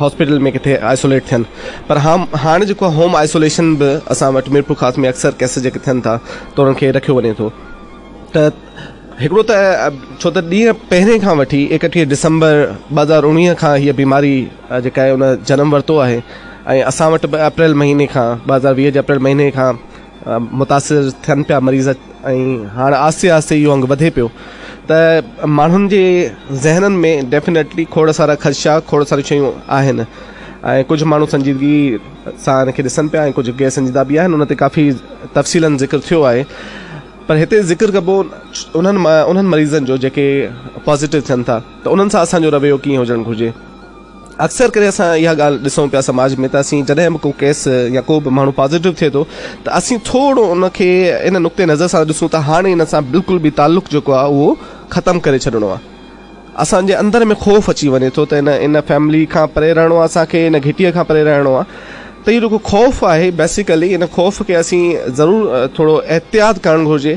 هاسپيٽل ۾ ڪٿي آئسوليٽ ٿين پر هاڻ جيڪو هوم آئسوليشن به اسان وٽ ميرپورخاص ۾ اڪثر ڪيس جيڪي ٿين ٿا ته انهن کي رکيو وڃي ٿو ته هڪڙو ته ڇو ته ڏينهن پهرين کان وٺي اڪٽيهه ڊسمبر ٻه هزار اڻويهه کان هيء بيماري جيڪا آهي ان جنم ورتو آهي ۽ اسان وٽ به اپريل مهيني کان ٻه هزار ويهه جي اپريل مهيني کان متاثر ٿين پيا مريض ۽ هاڻ آهستي آهستي اهو انگ وڌي پيو ته ماڻهن جي ذهنن ۾ ڊيفنيٽلي کوڙ سارا خدشا کوڙ ساريون شيون آهن ۽ ڪجهه ماڻهو سنجيدگي سان ان کي ڏسن پيا ۽ ڪجهه غير سنجيده به آهن ان تي ڪافي تفصيلن ذڪر ٿيو آهي پر هتي ذڪر ڪبو انهن انهن مريضن جو جيڪي پازيٽو ٿين ٿا ته انهن سان اسان جو رويو ڪيئن هجڻ گهرجي اڪثر ڪري اسان اها ڳالهه ڏسون پيا سماج ۾ ته اسين جڏهن به ڪو ڪيس يا ڪو به ماڻهو پازيٽو ٿئي ٿو ته اسين ٿورو ان کي ان نقطي نظر سان ڏسون ته هاڻي ان سان بلڪل به تعلق جيڪو آهي اهو ختم ڪري ڇڏڻو آهي اسان جي اندر ۾ خوف اچي وڃي ٿو ته نه ان فيملي کان پري رهڻو آهي اسان کي ان گهٽيء کان پري رهڻو آهي ته اهو جيڪو خوف آهي بيسيڪلي ان خوف کي اسين ضرور ٿورو احتياط ڪرڻ گهرجي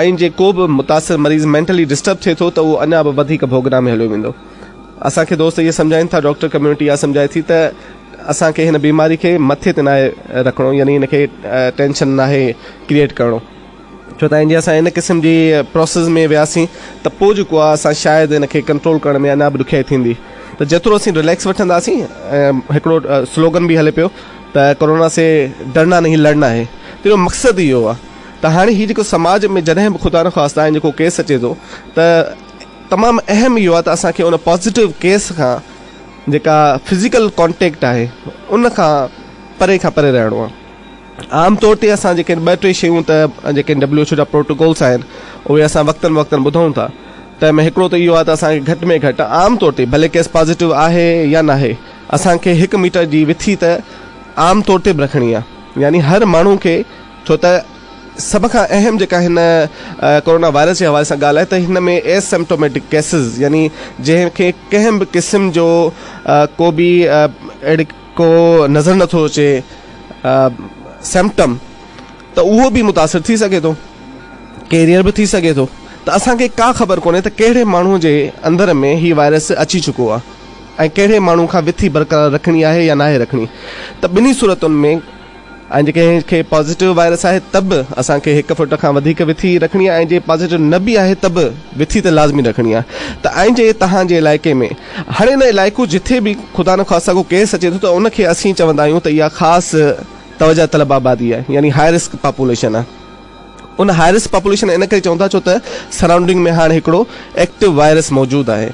آئين جي ڪو به متاثر مريض مينٽلي ڊسٽرب ٿئي ٿو ته اهو اڃا به وڌيڪ ڀوڳنا ۾ هليو ويندو. اسان کي دوست اهي سمجهائين ٿا، ڊاڪٽر ڪميونٽي اها سمجهائي ٿي ته اسان کي هن بيماري کي مٿي تي ناهي رکڻو يعني ان کي ٽينشن ناهي ڪريئيٽ ڪرڻو ڇو ته جي اسان ان قسم جي پروسيس ۾ وياسين ته پوء جيڪو آهي اسان شايد ان کي ڪنٽرول ڪرڻ ۾ اڃا به ڏکيائي ٿيندي ته جيترو اسين رليڪس وٺنداسين ۽ هڪڙو سلوگن به هلي پيو ته ڪورونا سي ڊرنا نهين لڙنا هي تنهن جو مقصد ئي اهو آهي. ته هاڻي هي جيڪو سماج ۾ جڏهن به خدا نخواسته آئين جيڪو ڪيس اچي ٿو ته تمام اهم اهو آهي ته اسان کي ان پازيٽو ڪيس کان جيڪا فزيڪل ڪانٽيڪٽ آهي ان کان پري کان پري رهڻو آهي عام طور تي اسان جيڪي ٻه ٽي شيون ته جيڪي ڊبليو ايڇ او جا پروٽوڪولس آهن اهي اسان وقتن وقتن ٻڌون ٿا تنهن ۾ هڪڙو ته اهو آهي ته اسان کي گهٽ ۾ گهٽ عام طور تي ڀلي ڪيس پازيٽو آهي يا نه آهي اسان کي هڪ ميٽر جي وٿي ته عام طور تي به رکڻي آهي يعني هر ماڻهو کي ڇو ته سڀ کان اهم جيڪا هن ڪورونا وائرس جي حوالي سان ڳالهه آهي ته هن ۾ اي سمپٽوميٽڪ ڪيسز يعني جنهن کي ڪنهن به قسم جو ڪو به اهڙي ڪو نظر نه ٿو اچي سمپٽم ته اهو به متاثر ٿي سگهي ٿو ڪيريئر به ٿي سگهي ٿو ته اسان کي ڪا خبر ڪونهي ته ڪهڙي ماڻهو جي اندر ۾ هي وائرس اچي چڪو آهي ۽ ڪهڙي ماڻهو کان وٿي برقرار رکڻي آهي يا ناهي رکڻي ته ٻنهي صورتن ۾ ۽ جي ڪنهن کي پازيٽو وائرس آهي ته به اسان کي هڪ فوٽ کان وڌيڪ وٿي رکڻي آهي ۽ جي پازيٽو نه به آهي ته به وٿي ته لازمي رکڻي آهي ته ۽ جي توهان جي علائقي ۾ هاڻي ان علائقو جٿي به خدا نه خواستان ڪو ڪيس اچي ٿو ته ان کي اسين چوندا آهيون ته اها خاص توجه طلب آبادي آهي يعني هاء رسڪ پاپوليشن آهي ان هاء رسڪ پاپوليشن ان ڪري چون ٿا ڇو ته سرائونڊنگ ۾ هاڻ هڪڙو ايڪٽو وائرس موجود آهي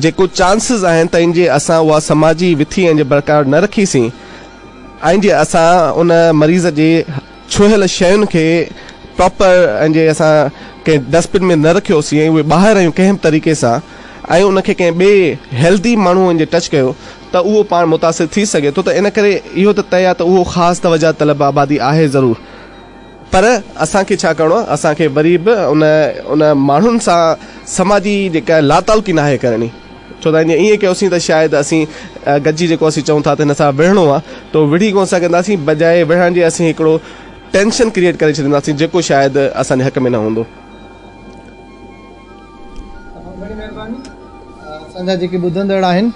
جيڪو چانسز آهن ته ان جي اسان اها سماجي وٿي ۽ جي برقرار نه رکي سين ۽ جي اسان ان مريض جي ڇهيل شين کي پراپر ۽ جي اسان ڪنهن ڊسٽبن ۾ نه رکيوسين ۽ اهي ٻاهر هيون ڪنهن به طريقي سان ۽ ان کي ڪنهن ٻئي هيلڌي ماڻهو ان جي ٽچ ڪيو ته اهو پاڻ متاثر ٿي سگهي ٿو ته ان ڪري اهو ته طئي آهي ته اهو خاص توجهه طلب آبادي آهي ضرور. پر اسان کي ڇا ڪرڻو آهي؟ اسان کي وري به ان ان ماڻهن سان سماجي جيڪا لاتعلقي ناهي ڪرڻي. ڇو ته جي ائين ڪيوسين ته شايد اسين گڏجي جيڪو اسين چئون ٿا ته هن سان وڙهڻو آهي تو وڙهي ڪونه سگهنداسين بجاء وڙهڻ جي اسين هڪڙو ٽينشن ڪريئيٽ ڪري ڇڏينداسين جيڪو شايد اسان جي حق ۾ نه هوندو. وڏي
مهرباني اسان جا جيڪي ٻڌندڙ آهن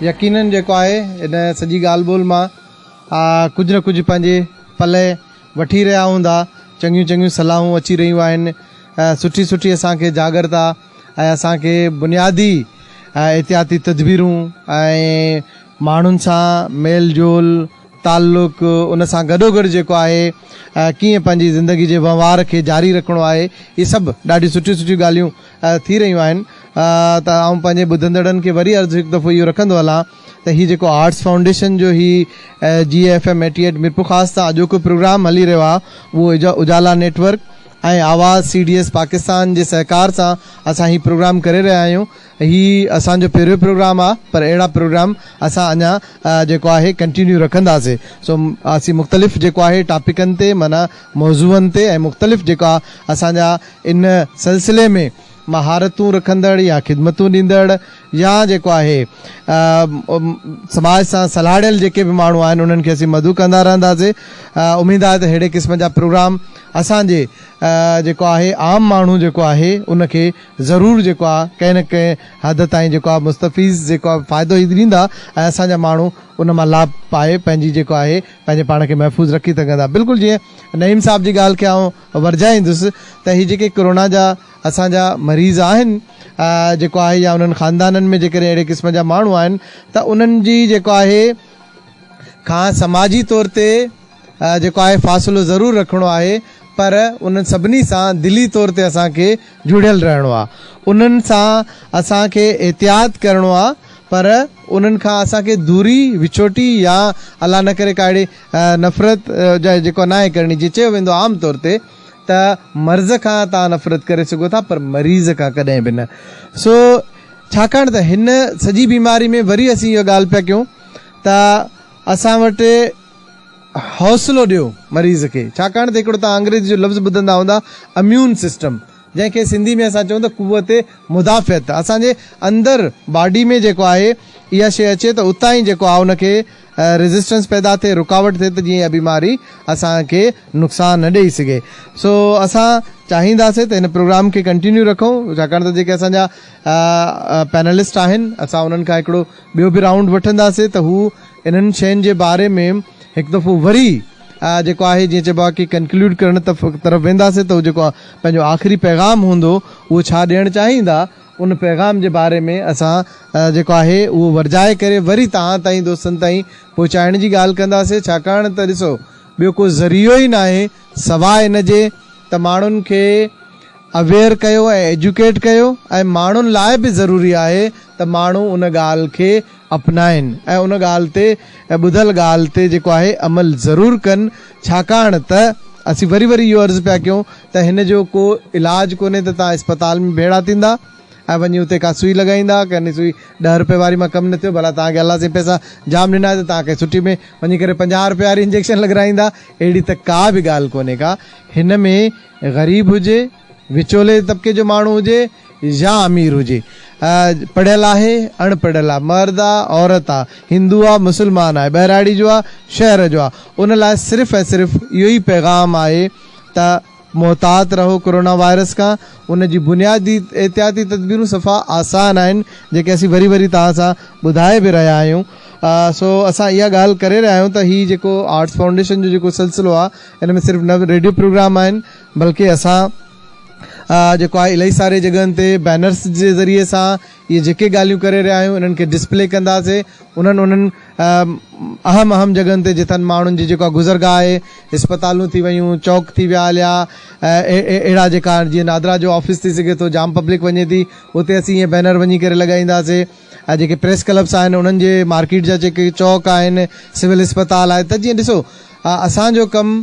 يقينن جيڪو آهي ان سڄي ڳالهه ٻولهه مان ڪجهه نه ڪجهه پنهنجي پلئه وٺي رهيا هوندا چڱيون چڱيون صلاحون اچي رهيون آهن ۽ سٺي سٺي اسان کي جاڳرتا ۽ اسان کي بنيادي احتياطي تدبيرون ۽ ماڻهن سان ميل جول تعلق ان سان گڏوگڏ جيڪو آهي ڪيئن پنهنجي زندگي جي وهنوار کي جاري رکڻو آهي اهي سڀ ڏاڍيون سٺيون سٺيون ڳالهيون ٿي رهيون آهن ته آئون پنهنجي ٻڌندڙن کي وري عرض هڪ دفعو اهو رکندو هلان ته هي جيڪو آرٽس فائونڊيشن جو هي جي F M eighty eight Mirpurkhas تان اڄوڪو پروگرام هلي رهيو آهي اهو اجالا نيٽ ورڪ ۽ آواز سي ڊي ايس پاڪستان جي سهڪار سان اسان هي پروگرام ڪري رهيا آهيون هي اسان جو پهريون پروگرام آهي پر اهڙا پروگرام اسان اڃا جيڪو آهي ڪنٽينيو رکنداسين سو اسين مختلف جيڪو آهي ٽاپڪن تي معنيٰ موضوعن تي ۽ مختلف جيڪا اسان جا ان سلسلي ۾ مهارتون رکندڙ يا خدمتون ڏيندڙ يا جيڪو آهي سماج سان سلهاڙيل جيڪي به ماڻهو آهن انهن کي اسين مدعو ڪندا رهنداسي اميد آهي ته ههڙي قسم جا پروگرام اسان جي جيڪو آهي عام ماڻهو جيڪو آهي ان کي ضرور جيڪو آهي ڪنهن نه ڪنهن حد تائين جيڪو آهي مستفيض جيڪو آهي فائدو هي ڏيندا ۽ اسان جا ماڻهو ان مان لاڀ پائي پنهنجي جيڪو آهي پنهنجي پاڻ کي محفوظ رکي سگهندا بلڪل جيئن نعيم صاحب جي ڳالهه کي آئون ورجائيندس ته هي جيڪي ڪورونا جا اسان جا مريض آهن جيڪو آهي يا انهن خاندانن ۾ جيڪڏهن اهڙي قسم جا ماڻهو آهن ته انهن جي جيڪو آهي کان سماجي طور تي جيڪو آهي فاصلو ضرور رکڻو آهي پر انهن سڀني سان دلي طور تي اسان کي جڙيل رهڻو آهي انهن سان اسان کي احتياط ڪرڻو آهي پر انهن کان اسان کي دوري وڇوٽي يا الله نه ڪري ڪا اهڙي نفرت جا جيڪو ناهي ڪرڻي جيئن چيو ويندو عام طور تي ته مرض کان توهان نفرت ڪري سگهو ٿا پر مريض کان ڪڏهن به نه سو ڇاڪاڻ ته هن سڄي بيماري ۾ وري اسين اها ڳالهه پيا ڪيون ته اسان وٽ حوصلو ڏيو مريض کي ڇاڪاڻ ته هڪڙو توهان انگريزي جو لفظ ٻڌندا هوندا اميون سسٽم جنهن کي سنڌي ۾ اسان چون ته قوت مدافعت اسان جي اندر باڊي ۾ جيڪو آهي اها شي اچي ته اتان ئي جيڪو آهي ان کي ريزسٽنس پيدا ٿئي رڪاوٽ ٿئي ته جيئن اھا بيماري اسان کي نقصان نه ڏئي سگھي سو اسان چاھينداسين ته ھن پروگرام کي ڪنٽينيو رکون ڇاڪاڻ ته جيڪي اسان جا پينلسٽ آھن اسان انھن کان ھڪڙو ٻيو به رائونڊ وٺنداسين ته ھو انھن شين جي باري ۾ ھڪ دفعو وري جيڪو آھي جيئن چئبو آھي ڪي ڪنڪليوڊ ڪرڻ طرف وينداسين ته ھو جيڪو پنھنجو آخري پيغام ھوندو اھو ڇا ڏيڻ چاھيندا ان پيغام جي باري ۾ اسان جيڪو آهي اهو ورجائي ڪري وري توهان تائين دوستن تائين پهچائڻ جي ڳالهه ڪنداسين ڇاڪاڻ ته ڏسو ٻيو ڪو ذريعو ئي ناهي سواء ان جي ته ماڻهن کي اويئر ڪيو ۽ ايجوڪيٽ ڪيو ۽ ماڻهن لاء به ضروري آهي ته ماڻهو ان ڳالهه کي اپنائن ۽ ان ڳالهه تي ۽ ٻڌل ڳالهه تي جيڪو آهي عمل ضرور ڪن ڇاڪاڻ ته اسين وري وري اهو عرض پيا ڪيون ته هن جو ڪو علاج ڪونهي ته توهان اسپتال ۾ ڀيڙا ٿيندا ۽ وڃي اتي ڪا سوئي لڳائيندا ڪي ني سوئي ڏهه رپئي واري مان ڪم نه ٿيو ڀلا توهان کي الله سائين پئسا جام ڏنا آهي ته توهان ڪنهن سٺي ۾ وڃي ڪري پنجاهه رپئي واري انجيڪشن لڳرائيندا اهڙي ته ڪا به ڳالهه ڪونهي ڪا هن ۾ غريب هجي وچولي طبقي جو ماڻهو هجي يا امير هجي پڙهيل آهي اڻ پڙهيل آهي مرد آ عورت آ هندو آ مسلمان آهي ٻهراڙي جو آ شهر جو آ ان لاء صرف ۽ صرف اهو ئي پيغام آهي ته محتاط رهو ڪورونا وائرس کان، ان جي بنيادي احتياطي تدبيرون صفا آسان آهن جيڪي اسين وري وري توهان سان ٻڌائي به رهيا آهيون سو اسان اها ڳالهه ڪري رهيا آهيون ته هي جيڪو آرٽس فائونڊيشن جو جيڪو سلسلو آهي ان ۾ صرف نه ريڊيو پروگرام آهن بلڪه اسان جيڪو آهي الائي ساري جڳهن تي بينرس جي ذريعي سان اهي جيڪي ڳالهيون ڪري رهيا آهيون انهن کي ڊسپلي ڪنداسين انهن انهن اهم اهم جڳهن تي جتن ماڻهن جي جيڪا گذرگاهه آهي اسپتالون ٿي ويون چوڪ ٿي ويا هليا اهڙا جيڪا جيئن نادرا جو آفيس ٿي سگهي ٿو جام پبلڪ وڃي ٿي اتي اسين اهي بينر وڃي ڪري لڳائينداسين ۽ جيڪي پريس ڪلبس آهن انهن جي مارڪيٽ جا جيڪي چوڪ آهن سول اسپتال آهي ته جيئن ڏسو اسان جو ڪم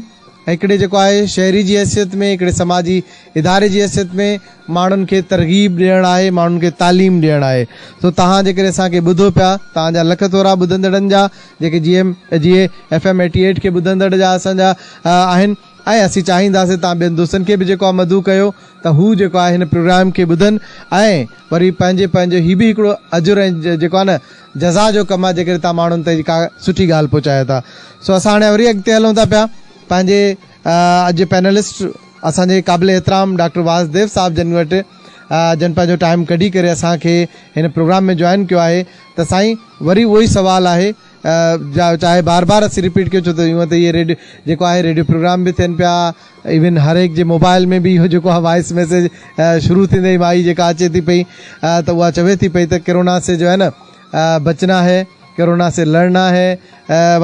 هڪڙي جيڪو آهي شهري جي حيثيت ۾ هڪڙي سماجي اداري جي حيثيت ۾ ماڻهن کي ترغيب ڏيڻ آهي، ماڻهن کي تعليم ڏيڻ آهي. سو توهان جيڪڏهن اسان کي ٻڌو پيا، توهان جا لک ٿورا ٻڌندڙن جا جيڪي جي ايم جي اي ايف ايم ايٽي ايٽ کي ٻڌندڙ جا اسان جا آهن ۽ اسين چاهينداسين توهان ٻين دوستن کي به جيڪو آهي مدعو ڪيو ته هو جيڪو آهي هن پروگرام کي ٻڌن ۽ وري پنهنجي پنهنجو هي به هڪڙو اجر ۽ جيڪو آهي نه جزا جو ڪم آهي جيڪڏهن توهان ماڻهن تائين ڪا سٺي ڳالهه پهچايو ٿا. سو اسان هاڻي وري اڳتي هلون ٿا پيا پنهنجي اڄ جي پينلسٽ اسان جي قابل احترام ڊاڪٽر واسديو صاحب جن وٽ جن پنهنجو ٽائيم ڪڍي ڪري اسان کي هن پروگرام ۾ جوائن ڪيو آهي ته سائين وري اهو ئي سوال آهي چاهي بار بار اسين رپيٽ ڪيو ڇو ته هونء ته اهي ريڊ جيڪو آهي ريڊيو پروگرام به ٿين پيا ايون هر هڪ جي موبائل ۾ به اهو جيڪو آهي وائس ميسيج شروع ٿيندي ئي مائي جيڪا اچي ٿي پئي ته اها چوي ٿي پئي ته ڪرونا سي جو هي نا بچنا هي، ڪرونا سي لڙنا هي،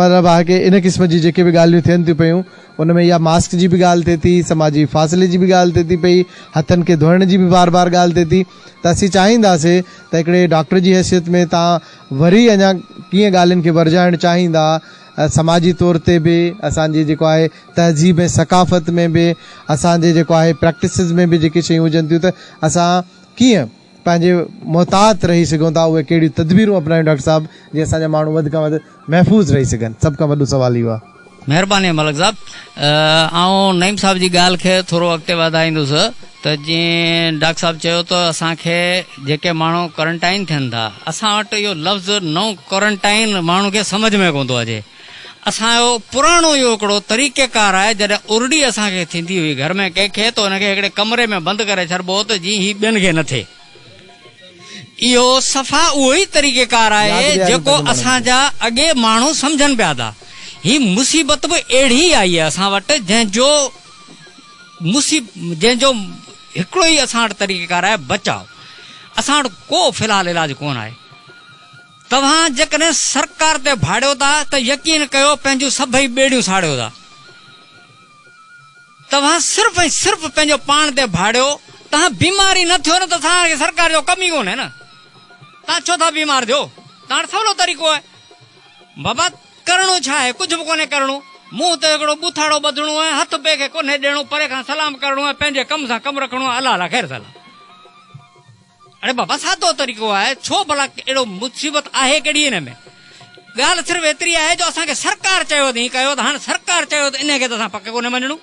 مطلب آهي ڪي ان قسم جي جيڪي به ڳالهيون ٿين ٿيون پيون ان ۾ اها ماسڪ جي به ڳالهه ٿئي ٿي، سماجي فاصلي جي به ڳالهه ٿئي ٿي پئي، هٿن کي ڌوئڻ جي به بار بار ڳالهه ٿئي ٿي ته اسين چاهينداسي ته هڪڙي ڊاڪٽر جي حيثيت ۾ تان وري اڃا ڪيئن ڳالهين کي ورجائڻ چاهيندا سماجي طور تي به اسان جي جيڪو آهي تهذيب ۽ ثقافت ۾ به اسان جي جيڪو آهي پريڪٽسز ۾ به جيڪي شيون هجن ٿيون ته اسان ڪيئن پنهنجي محتاط رهي سگهون ٿا اهي ڪهڙيون تدبيرون اپنايون ڊاڪٽر صاحب جي اسان جا ماڻهو وڌ کان وڌ محفوظ رهي سگهن سڀ کان وڏو سوال اهو آهي. مهرباني ملڪ صاحب
آئون نعيم صاحب جي ڳالهه کي ٿورو اڳتي واڌائيندس ته جئين ڊاڪٽر صاحب چيو ته اسان کي جيڪي ماڻهو ڪورنٽائن ٿين ٿا اسان وٽ اهو لفظ نو ڪورنٽائن ماڻهو کي سمجهه ۾ ڪونه ٿو اچي اسان جو پراڻو اهو هڪڙو طريقه ڪار آهي جڏهن ارڙي اسان کي ٿيندي هئي گهر ۾ ڪنهن کي ته ان کي هڪڙي ڪمري ۾ بند ڪري ڇڏبو هو ته جيئن هي ٻين کي نه ٿئي. اهو صفا اهو ئي طريقه ڪار آهي جيڪو اسان جا اڳي ماڻهو سمجهن پيا ٿا. هي مصيبت به اهڙي ئي آئي آهي اسان وٽ جنهن جو جنهن جو هڪڙو ئي اسان وٽ طريقه ڪار آهي بچاء. اسان وٽ ڪو في الحال علاج ڪونه آهي. توهان جيڪڏهن سرڪار تي ڀاڙيو ٿا ته يقين ڪيو پنهنجون سڀئي ٻيڙيون ساڙيو ٿا. توهان صرف ۽ صرف پنهنجو پاڻ تي ڀاڙيو، توهان بيمار ئي نه ٿيو نه ته توهان کي سرڪار جو ڪم ئي ڪونهي نه توهان ڇو ٿا بيمار ٿيو؟ توهان وٽ سولو طريقو آهي. بابا ڪرڻو ڇا آهي؟ ڪجهه به ڪونهي ڪرڻو. منهن تي هڪڙو ٻوٿاڙو ٻڌڻو آهي، هٿ ٻئي کي ڪونهي ڏيڻو، پري کان سلام ڪرڻو آهي، پنهنجي ڪم سان ڪم رکڻو آهي، الله لاء خير سلام. اڙي بابا سادو طريقو آهي، ڇو ڀلا اهڙو مصيبت آهي ڪهڙي ان ۾؟ ڳالهه صرف ايتري آهي جو اسان کي سرڪار چيو اٿئين ڪيو ته هاڻ سرڪار چيو ته انهي کي ته اسان پڪ ڪونهي مڃڻو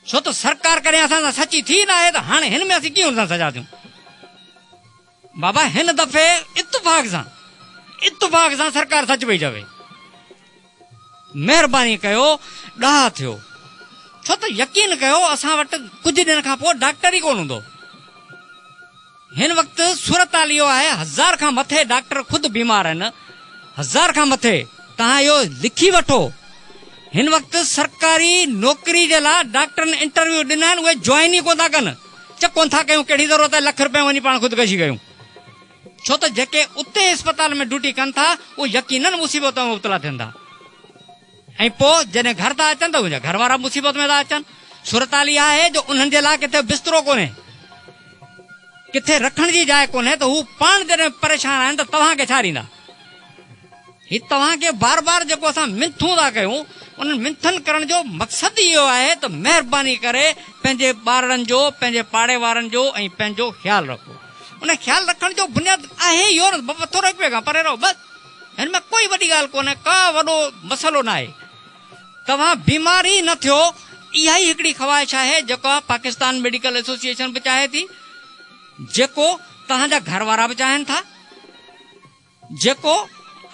ڇو ته سرڪار ڪڏهن اسان سان سچي ٿي ناهي ته هاڻي هن ۾ اسين ڪيئن هن سان سجا ٿيون؟ بابا هن دفعي اتفاق سان اتفاق سان سرڪار سچ پئي چوي. مهرباني ڪيو ڏاها ٿيو ڇو ته يقين ڪيو اسان وٽ ڪجهه ڏينهن کان پوء ڊاڪٽر ئي ڪونه هوندو. هن وقت صورتحال اهو آهي هزار کان مٿي ڊاڪٽر خود بيمار آهن هزار کان مٿي توهان اهو لکي وٺو هن وقت سرڪاري نوڪري جي لا ڊاڪٽرن انٽرويو ڏنا آهن اهي جوائن ئي ڪونه ٿا ڪن چه ڪونه ٿا ڪيون ڪهڙي ضرورت آهي لک رپين وڃي پاڻ خودڪشي ڪيون. ڇو ته جيڪي اتي اسپتال ۾ ڊيوٽي ڪن ٿا اهي يقينن مصيبت ۾ مبتلا ٿين ٿا ۽ پوء جڏهن گهر ٿا اچن ته انهن جا گهر وارا مصيبت ۾ ٿا اچن. صورتحال اها آهي جو انهن جي لاء ڪٿي بسترو ڪونهي، ڪٿي رکڻ جي جاء ڪونهي ته هو پاڻ جڏهن پريشان آهن ته توهان کي ڇا ڏيندا. هي توهان کي بار بار جيڪو اسان منٿون ٿا ڪيون انهن منٿن ڪرڻ جو مقصد ئي اهو آهي ته مهرباني ڪري پنهنجي ٻارڙن جو پنهنجي پاڙي وارن جو ۽ پنهنجو خيال رکو ان خيال رکڻ جو بنياد آهي ئي اهو نه بابا ٿورو هڪ ٻئي کان پري رهو بس هن ۾ ڪوئي وڏي ڳالهه ڪونهي ڪا وڏو مسئلو ناهي توهان بيمار ئي نه ٿيو اها ئي هڪڙي خواهش آهي جيڪا پاڪستان ميڊيڪل ايسوسيئيشن به چاهي ٿي جيڪو توهان جا گهر وارا به چاهين ٿا. جيڪو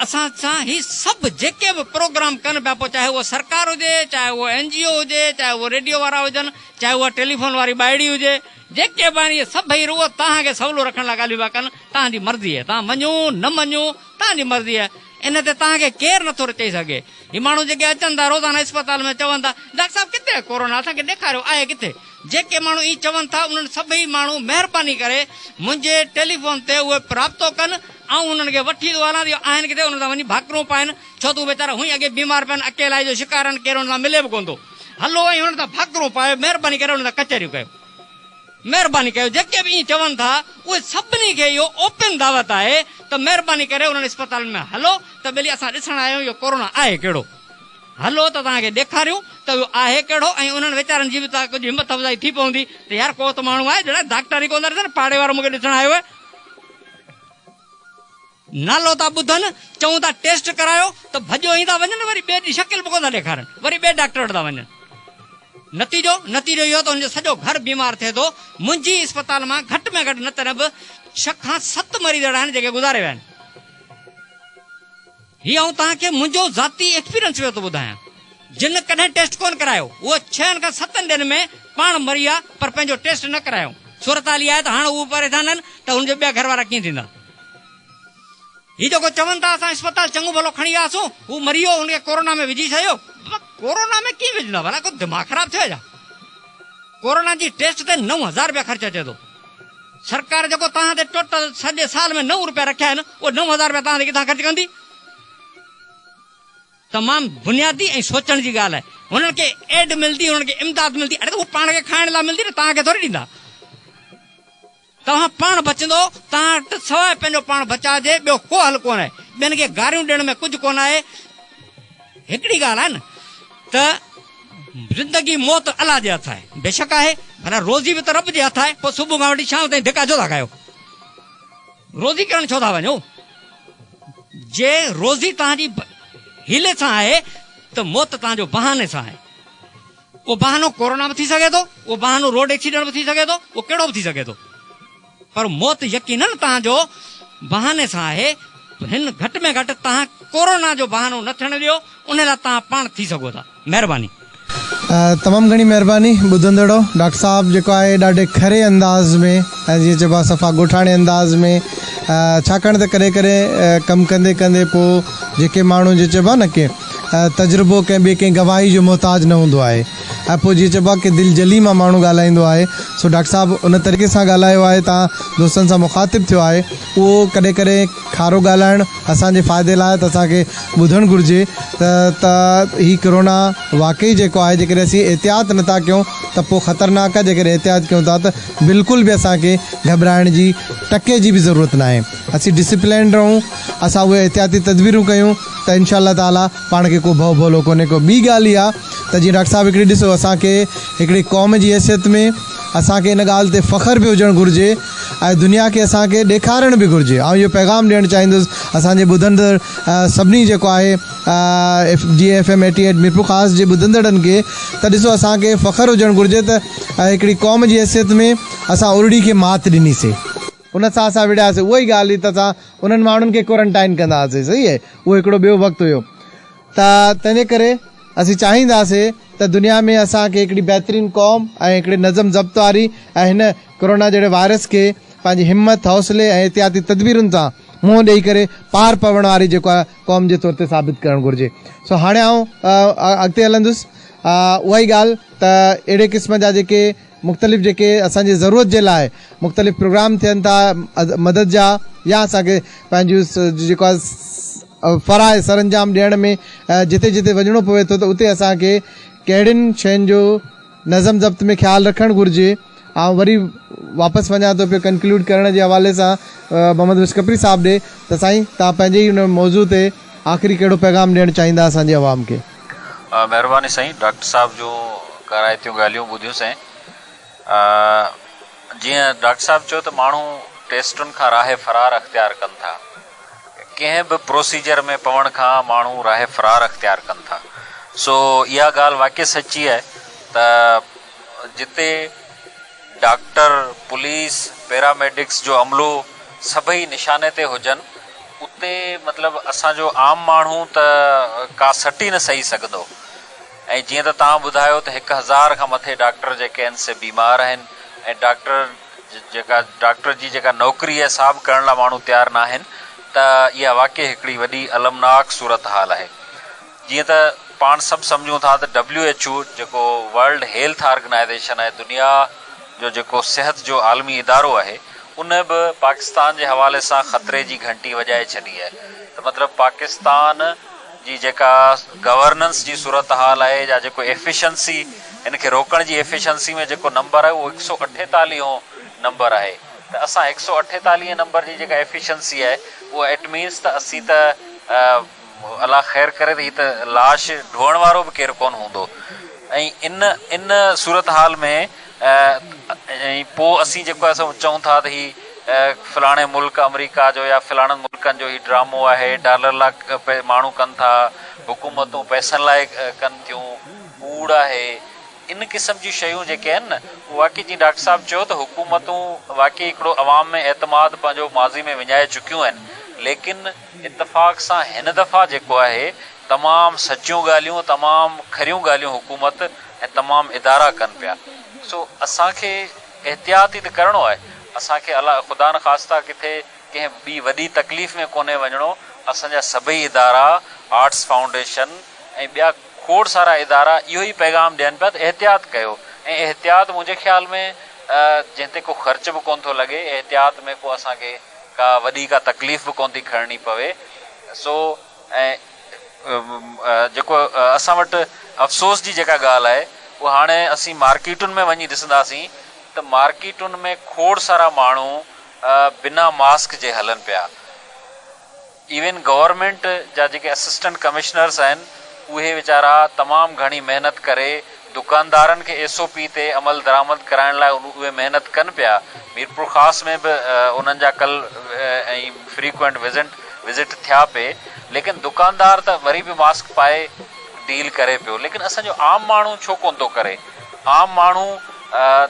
اسان سان هي سڀ جيڪي به پروگرام ڪن پيا پوء چاهي اها سرڪار هجي چاهي اهو اين جي او هجي چاهي اهو ريڊيو وارا هجن چاهي اها ٽيليفون واري ٻائڙي هجي جيڪي به آهن اهي سڀئي رڳو توهان کي سولو رکڻ لاء ڳالهيون پيا ڪن توهان جي مرضي آهي توهان مڃو نه مڃو توهان جي مرضي آهي ان تي توهان کي ڪير نه ٿو چئي سگهي هي ماڻهو جيڪي اچن ٿا روزانه اسپتال ۾ چون ٿا ڊاڪٽر صاحب ڪٿي آهي ڪورونا اسان کي ڏيکاريو آهي ڪٿي جيڪي ماڻهو ائين چون ٿا انهن سڀئي ماڻهو مهرباني ڪري منهنجي ٽيليفون تي اهي رابطو ڪن آئون انهن کي وٺي ٿو هلان يا آهن ڪٿي انهن سان وڃي ڀاڪرون پائين ڇو ته اهي ويچارا هونئن اڳي بيمار پيا آهن اڪيلائي جو شڪار آهن ڪير انهن سان ملي به ڪونه ٿو هلو ۽ انهن سان ڀاڪرون پايو مهرباني ڪري انهن سان ڪچهريون ڪيو مهرباني ڪيو جيڪي به ائين چون ٿا اهي سڀني کي اهو اوپن دعوت آهي ته مهرباني ڪري انهن اسپتالن ۾ هلو ته ٻيلي اسان ڏسڻ آيا آهيون اهو ڪورونا آهي ڪهڙو. هلو ته توهان کي ڏيکاريون ته اهو آهي ڪهڙو ۽ انهن ويچارن جي به ته ڪجهه همت افزائي ٿي پوندي ته يار ڪو ته ماڻهو آهي جيڙا ڊاڪٽر ئي ڪو نه ڏسن پاڙي وارو مون کي ڏسڻ آيو آهي. نالو ٿا ٻڌن، چئون ٿا ٽيسٽ ڪرايو ته ڀڄيو ئي ٿا وڃن وري ٻئي ڏينهن شڪل به ڪو نه ڏيکارن وري ٻئي ڊاڪٽر وٽ ٿا وڃن. نتيجو؟ نتيجو اهو ته هن جو سڄو گهر بيمار ٿئي ٿو. منهنجي اسپتال مان گهٽ ۾ گهٽ نه ته نه به ڇهه کان ست مريض اهڙا آهن جيڪي گذاري ويا آهن. هي آئون توهان کي منهنجو ذاتي ايڪسپيرينس پيو ٿو ٻڌايان. جن ڪڏهن ٽيسٽ ڪونه ڪرايو اهي ڇهن کان ستن ڏينهن ۾ پاڻ مريا پر پنهنجو ٽيسٽ نه ڪرايائون. صورتحال اها آهي ته هاڻ اهي پريشان آهن ته هن جا ٻيا گهر وارا ڪيئن ٿيندا. هي جيڪو چون ٿا اسان اسپتال چڱو ڀلو کڻي وياسون هو مري ويو هن کي ڪورونا ۾ وجهي ڇڏيو. بابا ڪورونا ۾ ڪيئن وجهندا ڀلا ڪو دماغ خراب ٿيو آهي ڇا. ڪورونا جي ٽيسٽ تي نو هزار رپيا خرچ اچي ٿو. سرڪار جيڪو توهان تي ٽوٽل سڄي سال ۾ نو روپيا رکيا آهن، اهي نو هزار روپيا توهان تي ڪٿان خرچ ڪندي؟ تمام بنيادي ۽ سوچڻ جي ڳالهه آهي. هنن کي ايڊ ملندي، هنن کي امداد ملندي، اڙي ته هو پاڻ کي کائڻ لاء ملندي نه، توهان کي ٿوري ڏيندا. توهان پاڻ بچندو، توهان وٽ سواء پنهنجو پاڻ بچاء جي ٻيو ڪو حل ڪونه آهي. ٻين کي گاريون ڏيڻ ۾ ڪجهه ڪونه آهي. هڪڙي ڳالهه آهي نه ته. زندگي موت الله جي هٿ آهي. بيشڪ آهي پر روزي به ته رب جي هٿ آهي پوء صبح کان وٺي شام تائين ڌڪا ڇو ٿا کايو؟ روزي ڪرڻ ڇو ٿا وڃو؟ جي روزي توهان جي حيلي سان آهي ته موت توهان جو بهاني سان آهي. اهو بهانو ڪورونا به ٿي سگهي ٿو، اهو بهانو روڊ ايڪسيڊنٽ به ٿي سگهي ٿو، اهو ڪهڙو به ٿي سگهي ٿو. پر موت يقينن توهان جو بهاني سان آهي، هن گهٽ ۾ گهٽ توهان ڪورونا جو بهانو نه ٿيڻ ڏيو، ان لاء توهان پاڻ ٿي سگهو ٿا. مهرباني.
تمام گهڻي مهرباني ٻڌندڙو. ڊاڪٽر صاحب جيڪو آهي ڏاڍي کري انداز ۾ ۽ جيئن چئبو آهي صفا ڳوٺاڻي انداز ۾ ڇاڪاڻ ته ڪڏهن ڪڏهن ڪم ڪندي ڪندي پوء جيڪي ماڻهو جيئن چئبو آهي نه ڪي تجربو ڪنهن ٻي ڪنهن گواهي جو محتاج نه هوندو آهي. ۽ پوء جيئن چئبو آهي ڪي دل جلي مان ماڻهو ڳالهائيندو آهي سو ڊاڪٽر صاحب ان طريقي سان ڳالهايو آهي تان دوستن سان مخاطب ٿيو آهي اهو ڪڏهن ڪڏهن کارو ڳالهائڻ اسان جي فائدي لاء ته اسان کي ٻڌڻ گهرجي ته ته هي ڪرونا واقعي جيڪو آهي جيڪڏهن اسين احتياط نه ٿا ڪيون ته پوء خطرناڪ آهي جيڪڏهن احتياط ڪيون ٿا ته بلڪل به اسان کي گهٻرائڻ جي ٽڪي جي به ضرورت ناهي اسين ڊسپلينڊ رهون اسان اهي احتياطي تدبيرون ڪيون ته انشاء الله تعالٰي پاڻ کي ڪو ڀؤ ڀولو ڪونهي ڪو ٻي ڳالهه اها ته جيئن ڊاڪٽر صاحب هڪڙي ڏسو اسان کي هڪڙي قوم جي حيثيت ۾ اسان کي ان ڳالهه تي فخر به هجڻ گهرجي ۽ دنيا کي اسان کي ڏيکارڻ به گهرجي آئون اهو پيغام ڏيڻ چاهيندس اسان جي ٻڌندڙ سڀني جيڪو آهي جي F M eighty eight Mirpurkhas جي ٻڌندڙن کي ته ڏسو اسان کي فخر هجڻ گهرجي ته هڪڙي قوم جي حيثيت ۾ اسان ارڙي کي مات ڏني سي ان سان اسان وڙهياسي اها ئي ڳالهه هئي ته اسان انهن ماڻهن کي ڪورنٽائن ڪندا هئاسي صحيح اهو هڪڙو ٻيو وقت هيو. ته تنهن ڪري اسين چاهينداسي ته دنيا ۾ اسان کي هڪڙي بهترين قوم ۽ هڪڙي نظم ضبط واري ۽ هن ڪورونا جهڙي وائرس کي پنهنجي همت، حوصلي ۽ احتياطي تدبيرن سان منهن ڏئي ڪري پار پوڻ واري جيڪو آهي قوم جي طور تي ثابت ڪرڻ گهرجي. سو هاڻي آئون اڳتي هلندس اها ئي ڳالهه ته اهڙي قسم جا جيڪي مختلف جيڪي اسان جي ضرورت جي لاء مختلف پروگرام ٿين ٿا مدد جا يا اسان کي پنهنجون جيڪو آهي فرائض سرانجام ڏيڻ ۾ جتي جتي وڃڻو پوي ٿو ته اتي اسان کي ڪهڙين شين جو نظم ضبط ۾ خيال رکڻ گهرجي آئون وري واپس وڃان ٿو پيو ڪنڪلوڊ ڪرڻ جي حوالي سان محمد بخش کپري صاحب ڏي ته سائين تان پنهنجي ان موضوع تي آخري ڪهڙو پيغام ڏيڻ چاهيندا اسان جي عوام کي مھرباني
سائين ڊاڪٽر صاحب جون ڪارائتيون ڳالھيون ٻڌيون سائين جيئن ڊاڪٽر صاحب چيو ته ماڻھو ٽيسٽن کان راه فرار اختيار ڪن ٿا ڪنھن به پروسيجر ۾ پوڻ کان ماڻھو راه فرار اختيار ڪن ٿا سو اها ڳالھ واقعي سچي آهي ته جتي ڊاڪٽر، پوليس، پيراميڊڪس جو عملو سڀئي نشاني تي هجن اتي مطلب اسان جو عام ماڻهو ته ڪا سٽ ئي نه سهي سگهندو ۽ جيئن ته توهان ٻڌايو ته هڪ هزار کان مٿي ڊاڪٽر جيڪي آهن سي بيمار آهن ۽ ڊاڪٽر جيڪا ڊاڪٽر جي جيڪا نوڪري آهي سا به ڪرڻ لاء ماڻهو تيار ناهن ته اها واقعي هڪڙي وڏي المناڪ صورتحال آهي. جيئن ته پاڻ سڀ سمجهون ٿا ته ڊبليو ايڇ او جيڪو ورلڊ هيلٿ آرگنائيزيشن آهي دنيا جو جيڪو صحت جو عالمي ادارو آهي ان به پاڪستان جي حوالي سان خطري جي گهنٽي وڄائي ڇڏي آهي ته مطلب پاڪستان جي جيڪا گورننس جي صورتحال آهي يا جيڪو ايفيشنسي ان کي روڪڻ جي ايفيشنسي ۾ جيڪو نمبر آهي اهو هڪ سؤ اٺيتاليهه هون نمبر آهي ته اسان هڪ سؤ اٺيتاليهه نمبر جي جيڪا ايفيشنسي آهي اها اٽ مينس ته اسين ته الله خير ڪري ته هي ته لاش ڍوئڻ وارو به ڪير ڪونه هوندو ۽ ان صورتحال ۾ ۽ پوء اسين جيڪو آهي سو چئون ٿا ته هي فلاڻي ملڪ آمريڪا جو يا فلاڻن ملڪن جو هي ڊرامو آهي ڊالر لاء ماڻهو ڪن ٿا حڪومتون پئسن لاء ڪن ٿيون ڪوڙ آهي ان قسم جون شيون جيڪي آهن نه اهي واقعي جيئن ڊاڪٽر صاحب چيو ته حڪومتون واقعي هڪڙو عوام ۾ اعتماد پنهنجو ماضي ۾ وڃائي چڪيون آهن ليڪن اتفاق سان هن دفعا جيڪو آهي تمام سچيون ڳالهيون تمام کريون ڳالهيون حڪومت ۽ تمام ادارا ڪن پيا سو اسان کي احتياط ئي ته ڪرڻو آهي اسان کي الا خدا نه خاصتا ڪٿي ڪنهن ٻي وڏي تڪليف ۾ ڪونهي وڃڻو اسان جا سڀئي ادارا آرٽس فائونڊيشن ۽ ٻيا کوڙ سارا ادارا اهو ئي پيغام ڏين پيا ته احتياط ڪيو ۽ احتياط منهنجي خيال ۾ جنهن تي ڪو خرچ به ڪونه ٿو لڳي احتياط ۾ ڪو اسان کي ڪا وڏي ڪا تڪليف به ڪونه ٿي کڻڻي پوي سو ۽ جيڪو اسان وٽ افسوس جي جيڪا ڳالهه آهي اها هاڻي اسين مارڪيٽن ۾ وڃي ڏسنداسين ته مارڪيٽن ۾ کوڙ سارا ماڻهو بنا ماسڪ جي هلن پيا. ايون گورنمينٽ جا جيڪي اسسٽنٽ ڪمشنرس آهن اهي ويچارا تمام گهڻي محنت ڪري دڪاندارن کي ايس او پي تي عملدرآمد ڪرائڻ لاء اهي محنت ڪن پيا ميرپورخاص ۾ به انهن جا ڪل ۽ فريڪوئنٽ وزنٽ وزٽ ٿيا پي ليڪن دڪاندار ته وري به ماسڪ پائي ڊيل ڪري پيو ليڪن اسان جو عام ماڻهو ڇو ڪون ٿو ڪري عام ماڻهو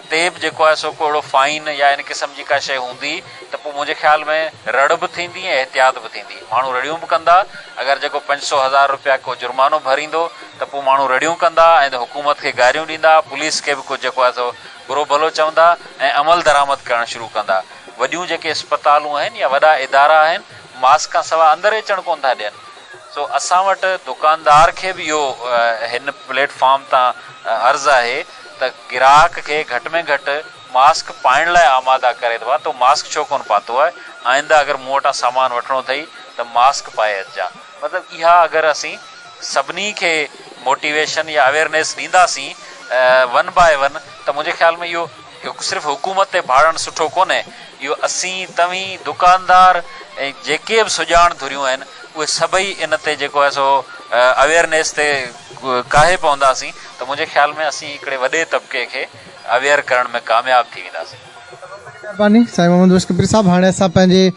تي به جيڪو آهي سو ڪو اهڙو فائن يا ان قسم جي ڪا شئي هوندي ته پوء منهنجي خيال ۾ رڙ به ٿيندي ۽ احتياط به ٿيندي. ماڻهو رڙيون به ڪندا. اگر جيڪو پنج سؤ هزار رپيا ڪو جرمانو ڀريندو ته پوء ماڻهو رڙيون ڪندا ۽ حڪومت کي گاريون ڏيندا، پوليس کي به ڪجهه جيڪو آهي سو برو ڀلو چوندا ۽ عمل درآمد ڪرڻ شروع ڪندا. وڏيون جيڪي اسپتالون آهن يا وڏا ادارا آهن، ماسڪ کان سواء اندر ئي اچڻ ڪونه ٿا ڏين. سو اسان وٽ دڪاندار کي به اهو هن پليٽ فارم تان عرض آهي ته گراهڪ کي گهٽ ۾ گهٽ. ماسڪ پائڻ لاء آماده ڪري ته ڀا تو ماسڪ ڇو ڪونه پاتو آهي، آئنده اگر مون وٽان سامان وٺڻو اٿئي ته ماسڪ پائي اچجان. مطلب اها اگر اسين سڀني کي موٽيويشن يا اويئرنيس ڏينداسين ون باء ون ته منهنجي خيال ۾ اهو صرف حڪومت تي ڀاڙڻ سٺو ڪونهي، اهو اسين، توهين، دڪاندار ۽ جيڪي به سڄاڻ ڌريون آهن اهي سڀئي ان تي جيڪو آهي سو اويئرنيس تي ڪاهي پونداسين ته منهنجي خيال ۾ اسين هڪڙي وڏي طبقي کي. اويئر ڪرڻ ۾ ڪامياب ٿي وينداسين. مھرباني
سائين محمد بخش ڪپري صاحب ھاڻي اسان پنھنجي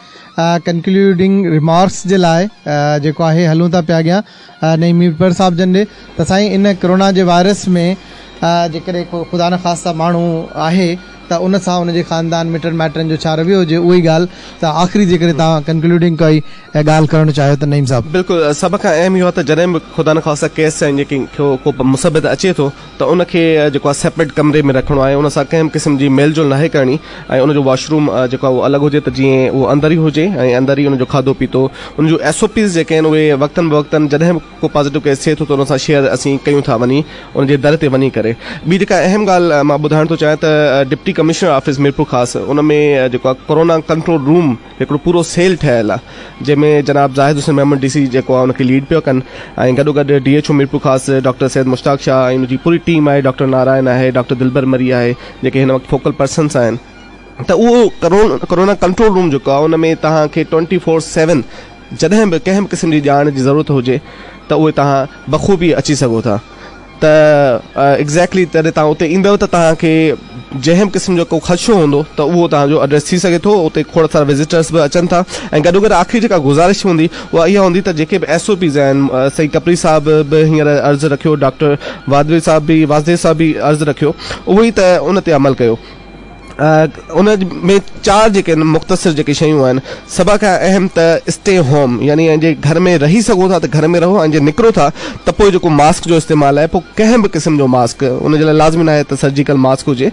ڪنڪليوڊنگ ريمارڪس جي لاء جيڪو آھي ھلون ٿا پيا اڳيان نعيم ميرپور صاحب جن ڏي ته سائين ان ڪرونا جي وائرس ۾ جيڪڏھن ڪو خدا نه خاصتا ماڻھو آھي ته ان سان ان جي خاندان مٽن مائٽن جو ڇا رويو ھجي اھي ڳالھ ته آخري جيڪڏھن تھان ڪنڪليوڊنگ ڪائي ڳالھ ڪرڻ چاھيو ته نعيم صاحب. بلڪل سڀ کان اھم اھو
آھي ته جڏھن به خدا نه خاصتا ڪيس ۽ جيڪي ڪو مثبت اچي ٿو ته ان کي جيڪو آهي سيپريٽ ڪمري ۾ رکڻو آهي ان سان ڪنهن به قسم جي ميل جول ناهي ڪرڻي ۽ ان جو واش روم جيڪو آهي اهو الڳ هجي ته جيئن اهو اندر ئي هجي ۽ اندر ئي ان جو کاڌو پيتو ان جون ايس او پيز جيڪي آهن اهي وقتن بوقتن جڏهن به ڪو پازيٽو ڪيس ٿئي ٿو ته ان سان شيئر اسين ڪيون ٿا وڃي ان جي در تي وڃي ڪري ٻي جيڪا اهم ڳالهه مان ٻڌائڻ ٿو چاهيان ته ڊپٽي ڪمشنر آفيس ميرپورخاص ان ۾ جيڪو آهي ڪورونا ڪنٽرول روم هڪڙو پورو سيل ٺهيل آ جنهن ۾ جناب زاهد حسين محمد ڊي سي جيڪو آ ان کي ليڊ پيو ڪن ۽ گڏو گڏ D H O Mirpurkhas doctor Syed Mushtaq Shah ۽ ان جي پوري ٽيم آهي ڊاڪٽر نارائن آهي ڊاڪٽر دلبر مري آهي جيڪي هن وقت فوڪل پرسنس آهن ته اهو ڪرونا ڪنٽرول روم جيڪو آ ان ۾ توهان کي ٽوئنٽي فور سيون جڏهن به ڪنهن به قسم جي ڄاڻ جي ضرورت هجي ته اهي توهان بخوبي اچي سگهو ٿا. ته ايگزيڪٽلي جڏهن توهان اتي ايندؤ ته توهان کي جنهن به قسم جو ڪو خدشو هوندو ته اهو توهان جو ايڊريس ٿي سگهي ٿو اتي کوڙ سارا وزيٽرس به اچن ٿا ۽ گڏو گڏ آخري جيڪا گذارش هوندي اها اها هوندي ته جيڪي به ايس او پيز آهن سائين ڪپري صاحب به هينئر عرض رکيو ڊاڪٽر واڌوي صاحب به واسديو صاحب به عرض رکيو اهو ئي ته ان تي عمل ڪيو ان ۾ چار جيڪي آهن مختصر جيڪي شيون آهن سڀ کان اهم ته اسٽي هوم يعني جي گهر ۾ رهي سگهو ٿا ته گهر ۾ رهو ۽ جي نڪرو ٿا ته پوء جيڪو ماسڪ جو استعمال آهي پوء ڪنهن به قسم جو ماسڪ ان جي لاء لازمي ناهي ته سرجيڪل ماسڪ هجي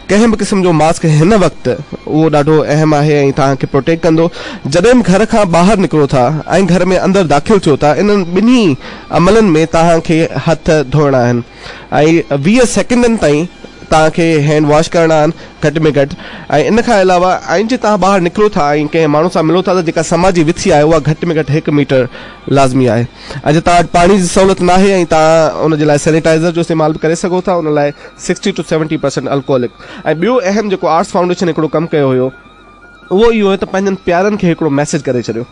ڪنهن به قسم جو ماسڪ هن وقت اهو ڏاڍو اهم آهي ۽ توهان کي پروٽيڪٽ ڪندو جڏهن به گهر کان ٻاهر نڪرو ٿا ۽ گهر ۾ اندر داخل ٿيو ٿا انهن ٻنهي عملن ۾ توهان کي هٿ ڌوئڻا آهن. ۽ ويهه سيڪنڊن تائين توهان کي هينڊ واش ڪرڻا آهن گهٽ ۾ گهٽ ۽ ان کان علاوه ۽ جي توهان ٻاهر نڪرو ٿا ۽ ڪنهن ماڻهو سان ملو ٿا ته جيڪا سماجي وٿي آهي اها گهٽ ۾ گهٽ هڪ ميٽر لازمي آهي ۽ جي توهان وٽ پاڻي جي سهولت ناهي ۽ توهان ان جي لاء سينيٽائزر جو استعمال به ڪري سگهو ٿا ان لاء sixty two seventy percent alcoholic ۽ ٻيو اهم جيڪو آرٽس فائونڊيشن هڪڙو ڪم ڪيو هيو اهو اهو هيو ته پنهنجن پيارن کي هڪڙو ميسيج ڪري ڇڏيو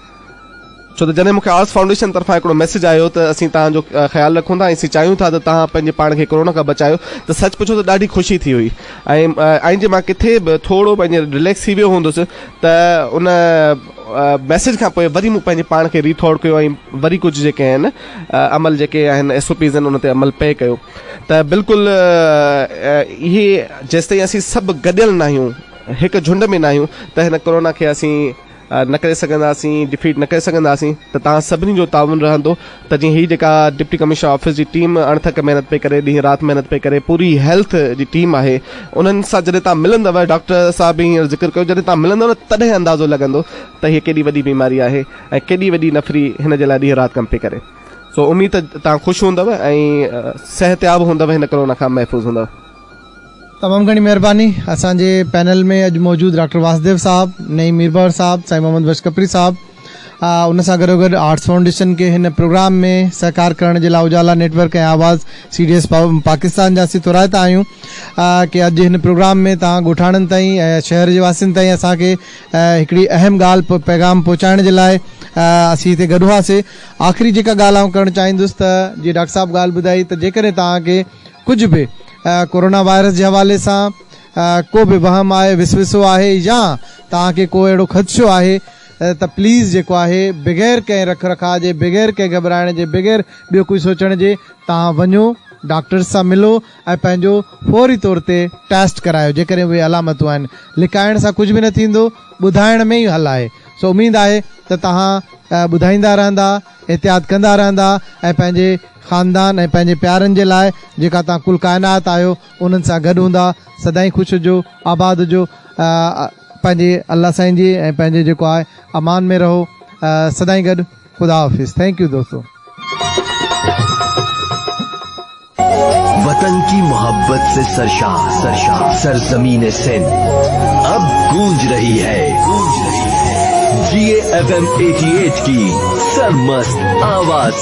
ڇو ته جڏهن مون کي آرس فائونڊيشن طرفان هڪڙو ميسيج آيو ته اسين توهان جو خيال رکون ٿا ۽ اسين چاهيون ٿا ته توهان پنهنجي پاڻ کي ڪورونا کان بچايو ته سچ پڇو ته ڏاڍي خوشي ٿي هئي ۽ جي مان ڪٿي به ٿورو پنهنجي رليڪس ٿي ويو هوندس ته ان ميسيج کان پوء وري مون پنهنجي پاڻ کي ري ٿورڊ ڪيو ۽ وري ڪجهه جيڪي آهن عمل جيڪي آهن ايس او پيز آهن ان تي عمل پئي ڪيو ته بلڪل اهي جيستائين اسين سڀ گڏيل ناهيون هڪ جهنڊ ۾ ناهيون ته هن ڪورونا کي اسين نه ڪري سگهنداسين ڊفيٽ نه ڪري سگهنداسين ته توهان سڀني جو تعاون رهندو ته جيئن هي جيڪا ڊپٽي ڪمشنر آفيس جي ٽيم اڻٿڪ محنت پئي ڪري ڏينهن رات محنت پئي ڪري پوري هيلٿ جي ٽيم آهي انهن سان جڏهن توهان ملندو ڊاڪٽر صاحب به هينئر ذڪر ڪيو جڏهن توهان ملندو نه تڏهن اندازو لڳندو ته هي ڪيڏي وڏي بيماري آهي ۽ ڪيڏي وڏي نفري هن جي لاء ڏينهن رات ڪم پئي ڪري سو اميد ته توهان خوش هوندو ۽ صحتياب هوندو هن ڪرونا کان محفوظ هوندو. تمام
گهڻي مهرباني اسان جي پينل ۾ اڄ موجود ڊاڪٽر واسديو صاحب، نعيم ميربحر صاحب، سائين محمد بخش کپري صاحب ان سان گڏوگڏ آرٽس فائونڊيشن کي هن پروگرام ۾ سهڪار ڪرڻ جي لاء اجالا نيٽ ورڪ ۽ آواز سي ڊي ايس پاڪستان جا اسين ٿورائتا آهيون ڪي اڄ هن پروگرام ۾ توهان ڳوٺاڻن تائين شهر جي واسين تائين اسان کي هڪڙي اهم ڳالهه پيغام پهچائڻ جي لاء اسين هتي گڏ هئاسي آخري جيڪا ڳالهه آئون ڪرڻ چاهيندس ته جي ڊاڪٽر صاحب ڳالهه ٻڌائي ته جيڪڏهن توهان کي ڪجهه به ڪورونا وائرس جي حوالي سان ڪو به وهم آهي وسوسو آهي يا توهان کي ڪو اهڙو خدشو آهي ته پليز جيڪو آهي بغير ڪنهن رک رکاء جي بغير ڪنهن گهٻرائڻ جي بغير ٻيو ڪجهه سوچڻ جي توهان وڃو ڊاڪٽرز سان ملو ۽ پنهنجو فوري طور تي ٽيسٽ ڪرايو جيڪڏهن اهي علامتون آهن لڪائڻ سان ڪجهه به نه ٿيندو ٻڌائڻ ۾ ئي حل آهي سو اميد آهي ته توهان ٻڌائيندا رهندا احتياط ڪندا رهندا ۽ پنهنجي خاندان ۽ پنهنجي پيارن جي لاء جيڪا توهان ڪل ڪائنات آهيو انهن سان گڏ هوندا سدائين خوش هجو آباد هجو پنهنجي الله سائين جي ۽ پنهنجي جيڪو آهي امان ۾ رهو سدائين گڏ خدا حافظ ٿينڪ يو دوستو.
وطن ڪي محبت سي سرشار سرزمين سنڌ اب گونج رهي هي جيئي ايف ايم ايٽي ايٽ ڪي سرمست آواز سي.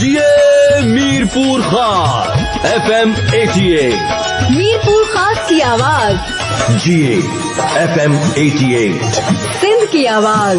جيئي
Mirpurkhas F M eighty eight Mirpurkhas
ڪي آواز جيئي
F
M eighty
eight
Sindh ڪي
آواز.